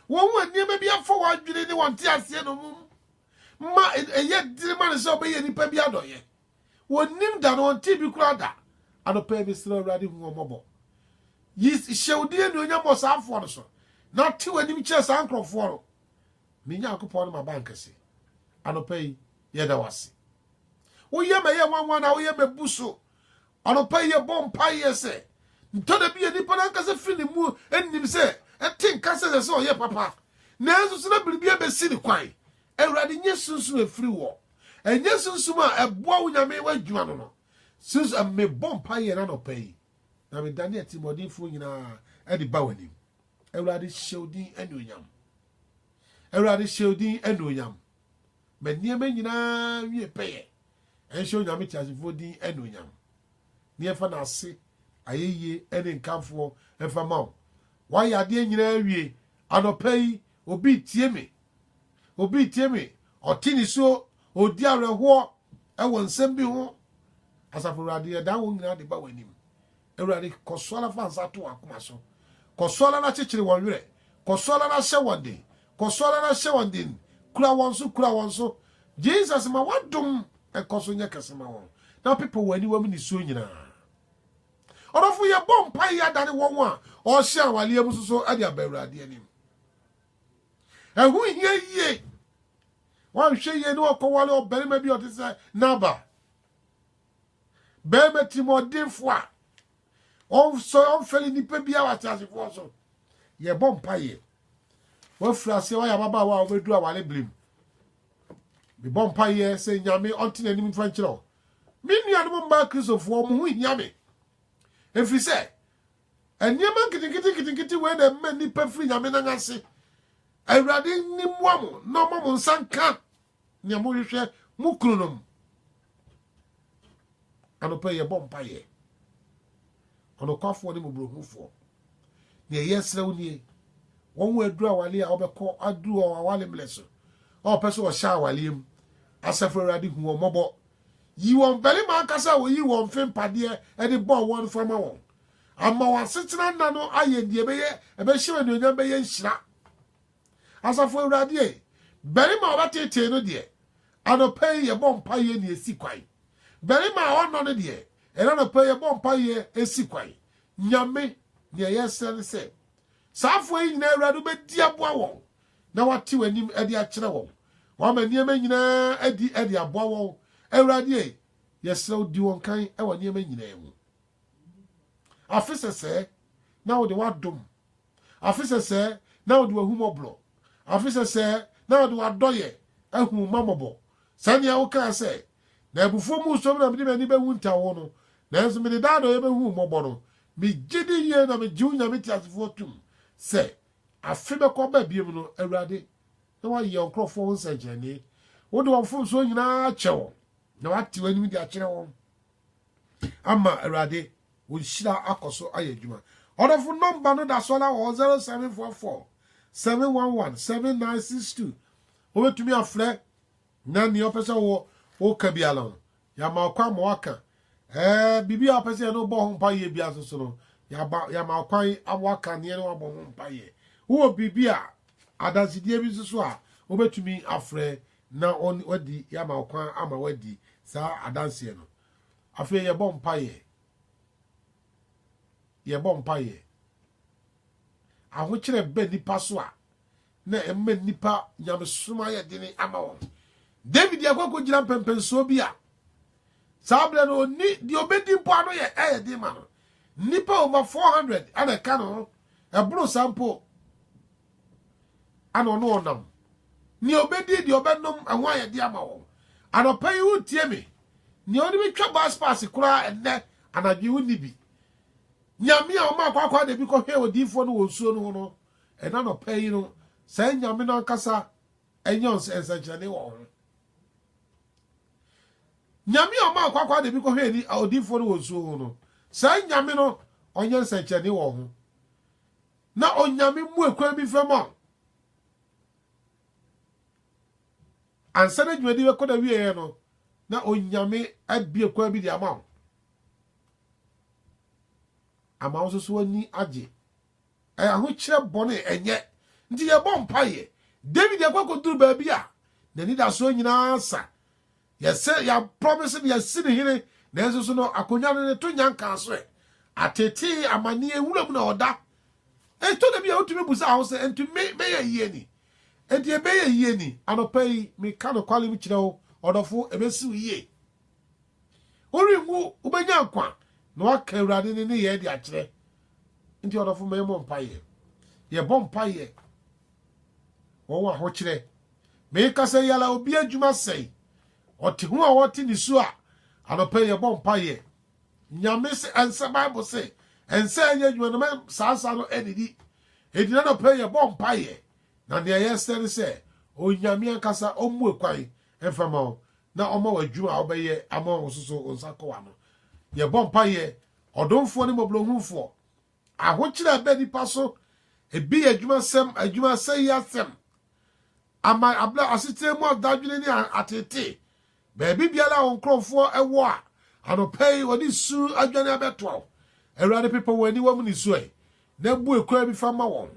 wɔn a nneɛma bi afa wɔn adwene ne wɔn nteaseɛ no mu ma ɛyɛ diri ma no sɛ ɔbɛyɛ nipa bi adɔyɛ. wɔnnim da na wɔntee bi koraa da. Anɔpa yi mesrɛ Awurade hu wɔn mmɔbɔ. Yi hyɛ wo din anuonyam wɔ saa afoɔ no so na te w'anim kyerɛ saa nkurɔfoɔ no. Me Nyankopɔn ne m'abankɛse. Anɔpa yi yɛda wo ase. Woyɛ mɛyɛ nwanwa na woyɛ mɛbu so. Anɔpa yi yɛbɔ mpaeɛ sɛ ntɔ da bi yɛ nipa no ankasa firi ne mu nnim sɛ ɛte nka sɛ sɛ sɛ ɔyɛ papa nanso sɛ na biribi abɛsi ne kwan. Awurade nyɛ sunsum ɛfiri wɔ. Ɛnyɛ sunsum a ɛboa wo Nyame w'adwuma no no. Sunsum, Mebɔ mpaeɛ yɛn anɔpa yi, na medane atirimuɔdenfoɔ nyinaa de ba w'anim. Awurade, hyɛ wo din anuonyam. Awurade, hyɛ wo din anuonyam. Ma nneɛma nyinaa nwie pɛyɛ. Ɛnhyɛ Onyame teasefoɔ din anuonyam. Ne yɛmfa no ase, ayɛyie ne nkamfoɔ mfa ma wo. Woayɛ adeɛ nyinaa awie. Anɔpa yi, Obi tie me, obi tie me, ɔte nisuo, ɔredi awerɛhoɔ wɔ nsɛm bi ho. Asafo Awurade, yɛdan wɔn nyinaa de ba w'anim. Awurade, kɔ so ara fa nsa to wɔn akoma so. Kɔ so ara na kyekyere wɔn werɛ. Kɔ so ara na hyɛ wɔn den. Kɔ so ara na hyɛ wɔn den. Kura wɔn so, kura wɔn so. Jesus, ma w'adom nkɔ so nyɛ kɛse ma wɔn, na pepa wɔn aniwam nisuo nyinaa. Ɔdɔfo, yɛbɔ mpae yi adane wɔn a ɔrehyɛ awaleɛ mu soso de aba Awurade anim. Ɛho hia yie. Wɔanhwɛ yie ne wɔkɔwale ɔbarima bi ɔte sɛ Nabal. Barima timɔdenfo a ɔnsɔ ɔmfɛle nnipa bi a wɔateasefoɔ so. Yɛbɔ mpaeɛ. Wɔafiri aseɛ wɔayɛ ababaawa a wɔbɛdu awale bere mu. Mebɔ mpaeɛ sɛ Nyame ɔnte n'anim mfa nkyerɛ wo. Me nuanom mmaa Kristofoɔ, mo ho hia me. Ɛfiri sɛ, nneɛma nketenkete nketenkete wei na ɛma nnipa firi Nyame nan ase. Awurade ni mmoa mo na ɔma mo nsa nka nea mohwehwɛ mo kununom. Anɔpa yɛbɔ mpaeɛ. Ɔnokwafoɔ ne Mmɔborɔhunufoɔ. Deɛ yɛsrɛ wo nie, wɔn a aduru awaleɛ a wɔbɛkɔ aduru wɔn awale mmerɛ so, a wɔpɛ sɛ wɔhyɛ awaleɛ mu, Asafo Awurade, hu wɔn mmɔbɔ. Yi wɔn mmarima ankasa a wɔyi wɔn mfe mpadeɛ de bɔ wɔn no fa ma wɔn. Ama wɔn asetena nna no ayɛ deɛ ɛbɛyɛ ɛbɛhyɛ wo anuonyam bɛyɛ nhyira. Asafo Awurade ei, barima a ɔbɛteetee no deɛ, anɔpa yi yɛbɔ mpaeɛ na ɛsi kwan. Barima a ɔnnɔ no deɛ, ɛnnɛ anɔpa yi yɛbɔ mpaeɛ ɛsi kwan. Nyame, deɛ yɛsrɛ ne sɛ, saa afoa yi nyinaa Awurade wobɛdi aboa wɔn na wate w'anim de akyerɛ wɔn. Wama nneɛma nyinaa adi de aboa wɔn. Awurade ei, yɛsrɛ wo di wɔn kan wɔ nneɛma nyinaa mu. Afe sɛsɛɛ na wode w'adom Afe sɛsɛɛ na ɔde w'ahummɔborɔ, afe sɛsɛɛ na ɔde w'adɔeɛ ahu wo mma mmɔbɔ, sɛdeɛ wokaa sɛ, Na abufuo mu sum na mede m'ani bɛhu nta wo no, nanso mede daadɔeɛ bɛhu wo mmɔbɔ no. Megye di yie na megye wo Nyame teasefoɔ tom sɛ, afe bɛkɔ aba bio no, Awurade, na woayɛ wo nkurɔfoɔ ho nsɛnkyerɛnne, wode wɔn mfomsoɔ nyinaa akyɛ wɔn, na woate w'anim de akyerɛ wɔn. ama awurade wo nhyira akɔ so ayɛ adwuma ɔdɔfo nɔmba no da so ara wɔ hɔ zero seven four four seven one one seven nine six two wobɛtumi afrɛ na nea ɔpɛ sɛ wɔ woka bi ala no yɛama ɔkwan ma waka ɛɛ biribi a ɔpɛ sɛ yɛne wobɔ ho mpa yɛ bia nso so no yɛama ɔkwan awaka neɛ ne wabɔ ho mpa yɛ wowɔ biribi a adansedie bi nso so a wobɛtumi afrɛ na wadi, yɛama wo kwan ama woadi saa adanseɛ no. Afei yɛbɔ mpaeɛ. Yɛbɔ mpaeɛ. Ahokyerɛ bɛ nipa so a, na ɛma nipa nyamesom ayɛ dene ama wɔn. David akɔ akɔgyina mpɛmpɛnsoɔ bi a, saa berɛ no ɔni deɛ ɔbɛdi mpo ano yɛ ɛyɛ den ma no. Nnipa over 400 ɛna ɛka ne ho, ɛboro saa mpo. ana ɔne wɔn nam. Nea ɔbɛdi deɛ ɔbɛnom ɛho ayɛde ama wɔn. Anɔpa yi wotie me. Nea ɔde me twa bus pass koraa ɛnnɛ anadwo wo nni bi. Nyame a ɔma akɔ akɔ ada bi kɔhwɛ odiifoɔ no wɔ nsuo no ho no, ɛna anɔpa yi no, saa nyame no ankasa ɛnyɛ nsɛnkyerɛnne wɔ ho. Nyame a ɔma akɔ akɔ ada bi kɔhwɛ ni odiifoɔ no wɔ nsuo ho no, saa nyame no ɔnyɛ nsɛnkyerɛnne wɔ ho. Na Onyame mmue kwan bi mfra mu a ansa na dwumadi bɛkɔ n'awieɛ no, na Onyame abue kwan bi de ama wo. Ama wo nso so w'ani agye. Ɛyɛ ahokyerɛ bɔne ɛnyɛ. Nti yɛbɔ mpaeɛ. David akɔ akɔduru baabi a n'anidasoɔ nyinaa sa. Yɛse yɛ promise no yɛasi no hene nanso so no akonwa no ne to nya nkaa so ɛ. Atetee amaneɛ nwura mu na ɔda. Ɛtɔ da bi a wotumi busa ho sɛ ɛnti me mɛyɛ yie ni? Ɛnti ɛbɛyɛ yie ni? Anɔpa yi meka nokwalem kyerɛ wo ɔdɔfo ɛbɛsi wo yie. Worenwu wobɛnya nkwa na waka Awurade ne nneyɛɛ de akyerɛ. Nti ɔdɔfo ma yɛmmɔ mpaeɛ. Yɛbɔ mpaeɛ. wɔwɔ ahokyerɛ. Meka sɛ yɛla a obi adwuma sɛe, ɔte ho a ɔte ne su a, anɔpɛ yɛbɔ mpaeɛ. Nyame se ɛnsɛ Bible se ɛnsɛ ɛyɛ adwuma no ma saa nsa no adidi. Enti n'anɔpɛ yɛbɔ mpaeɛ na nea yɛsrɛ ne sɛ Onyame ankasa ɔmmue kwan mfa ma wo na ɔma w'adwuma a wobɛyɛ ama wo nso so wo nsa kɔ w'ano. Yɛbɔ mpaeɛ, Ɔdomfoɔ ne Mmɔborɔhunufoɔ, Ahokyere a ɛba nnipa so, ebi yɛ adwumasɛm, adwumasɛe asɛm, ama abla asetena mu adadwene ne ateetee. Baabi biara a wɔn nkurɔfoɔ wɔ a, anɔpa yi wɔde su adwane abɛtoa wo. Awurade pepa wɔn aniwa mu nisuae, na bue kwan bi fa ma wɔn,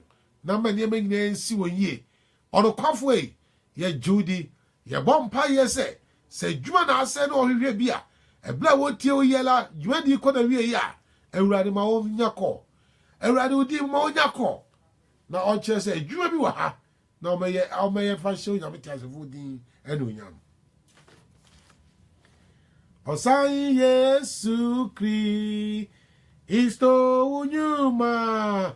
na ma nneɛma nyinaa nsi wɔn yie. Ɔnokwafoɔ yi, yɛgye wo di, Yɛbɔ mpae yɛ sɛ, sɛ adwuma na asɛe na wɔhwehwɛ bi a, ɛberɛ a wɔretie wo yɛ la, dwumadie kɔ n'awieɛ a, Awurade ma wɔnya kɔ. Awurade wo din ma wɔnya kɔ. Na ɔkyerɛ sɛ adwuma bi wɔ ha na wɔbɛyɛ a wɔbɛyɛ mfa nhyɛ Onyame teasefoɔ din anuonyam. Ɔsan Yesu Kristo wo nnwuma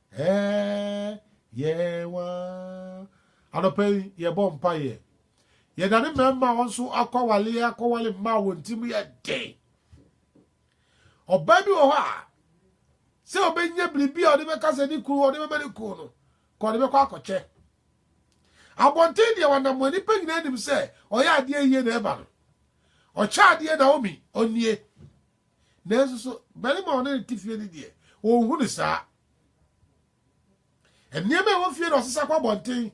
Ɛɛɛɛɛ yɛn wa. Anɔpa yi yɛbɔ mpaeɛ. Yɛdane mmarima a wɔn nso akɔ awaleɛ akɔwale mma a wɔn ti mu yɛ den. Ɔbaa bi wɔ hɔ a sɛ ɔbɛnya biribi a ɔde bɛka sɛ ne kunu ɔde bɛma ne kunu no ka ɔde bɛkɔ akɔkyɛ. Abɔnten deɛ wanam wɔ nnipa nyinaa nim sɛ ɔyɛ adeɛ yie na ɛba no. Ɔkyɛ adeɛ Naomi ɔnnie. Nanso so barima a ɔne no te fie no deɛ, ɔnhu no saa? Nneɛma a ɛwɔ fie na ɔsesa kɔ abɔnten.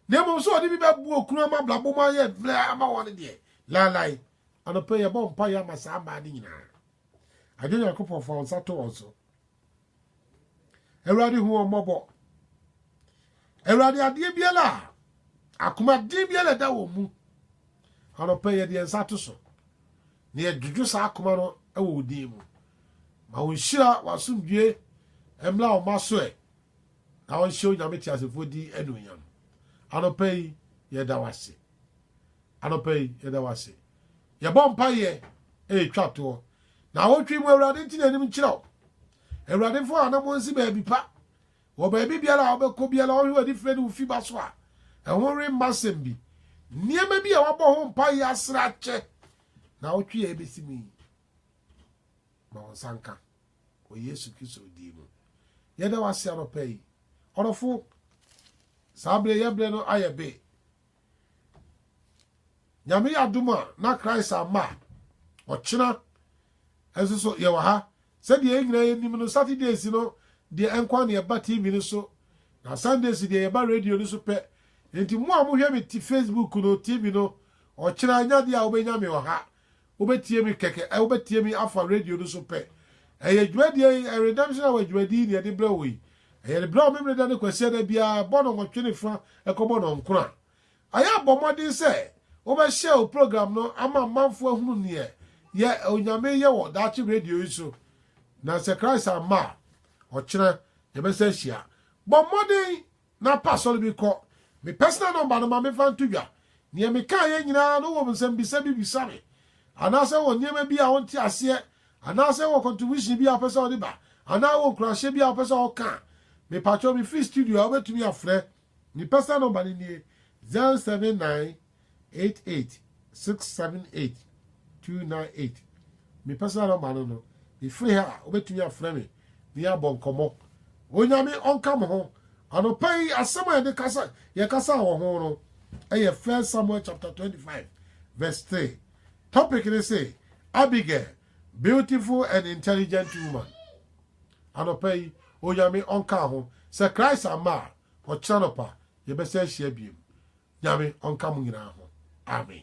Na mmom sɛ ɔde bi bɛbu okunu ama abrabɔ mu ayɛ mmerɛ ama wɔn deɛ, laalae. Anɔpa yɛbɔ mpaeɛ ama saa mmaa no nyinaa. Adwo Nyankopɔn fa wo nsa to wɔn so. Awurade hu wɔn mmɔbɔ. Awurade adeɛ biara a akomaden biara ɛda wɔn mu anɔpɛ yɛde yɛn nsa to so na yɛdwodwo saa akoma no wɔ wo din mu ma wo nhyira w'asomdwie mmra wo ma so ɛ na wɔnhyɛ onyame te asefoɔ din anuonyam anɔpɛ yi yɛda wase anɔpɛ yi yɛda wase yɛbɔ mpayɛ ɛretwa toɔ Naawɔtwe mu Awurade nti n'anim nkyerɛ wo. Awurade mfa w'anamɔ nsi baabi pa. Wɔ baabi biara a wobɛkɔ biara ɔnhwe w'ani frɛ ne wo fi ba so a, ɛho remma asɛm bi. Nneɛma bi a wabɔ ho mpaeɛ asrɛ akyɛ naawɔtwe a ɛbɛsi mu yi. Ma wo nsa nka wɔ Yesu Kristo din mu. Yɛda wase anɔpa yi. Ɔdɔfo, saa berɛ yɛbrɛ no ayɛ be. Nyame yɛ adom a na Christ amma a, ɔkyena nso so yɛwɔ ha. Sɛdeɛ yɛn nyinaa yɛnim no, Saturdays no deɛ nko a na yɛba TV no so, na Sundays deɛ yɛba radio no so pɛ. Enti mo a mohwɛ me te Facebook no, TV no, ɔkyena, ɛnyɛ adeɛ a wobɛnya me wɔ ha. Wobɛtie me kɛkɛ, ɛ, wobɛtie me afa radio no so pɛ. Ɛyɛ dwumadie yi, ɛ, Redemption Hour dwumadie yi na yɛde brɛ wo yi. Ɛyɛ de brɛ wo Memeneda ne Kwasiada biara, bɔ nnɔnwɔtwe ne fa, ɛkɔbɔ nnɔnkron a. Ayɛ a bɔ mmɔden sɛ wobɛ share wo program no ama amanfoɔ ahunu neɛ yɛ Onyame yɛ wɔ daakye radio yi so. Na sɛ Christ amma a, ɔkyena yɛbɛsan ahyia. Bɔ mmɔden Na pɛ asɔre bi kɔ. Me personal number no ma me mfa nto dwa. Nea me kaeɛ nyinaa no wowɔ nsɛmbisa bi bisa me, anaasɛ wowɔ nneɛma bi a wonte aseɛ, anaasɛ wowɔ contribution bi a wopɛ sɛ wode ba, anaa wowɔ nkuranhyɛ bi a wopɛ sɛ woka a, mepakyɛw mefiri studio a wobɛtumi afrɛ. Me personal number no nie, 079. eight eight six seven eight two nine eight me personal number no no mefiri ha a wobɛtumi afrɛ me ne yɛabɔ nkɔmmɔ onyame ɔnka mo ho anɔpa yi asɛm a yɛde kasa yɛkasa wɔ ho no ɛyɛ first samuel chapter 25 verse 3 topic ne se abigail beautiful and intelligent woman anɔpa yi onyame ɔnka ho sɛ christ ama a ɔkyerɛ nɔpa yɛbɛsɛ ahyia biem Nyame ɔnka mo nyinaa ho. Amen.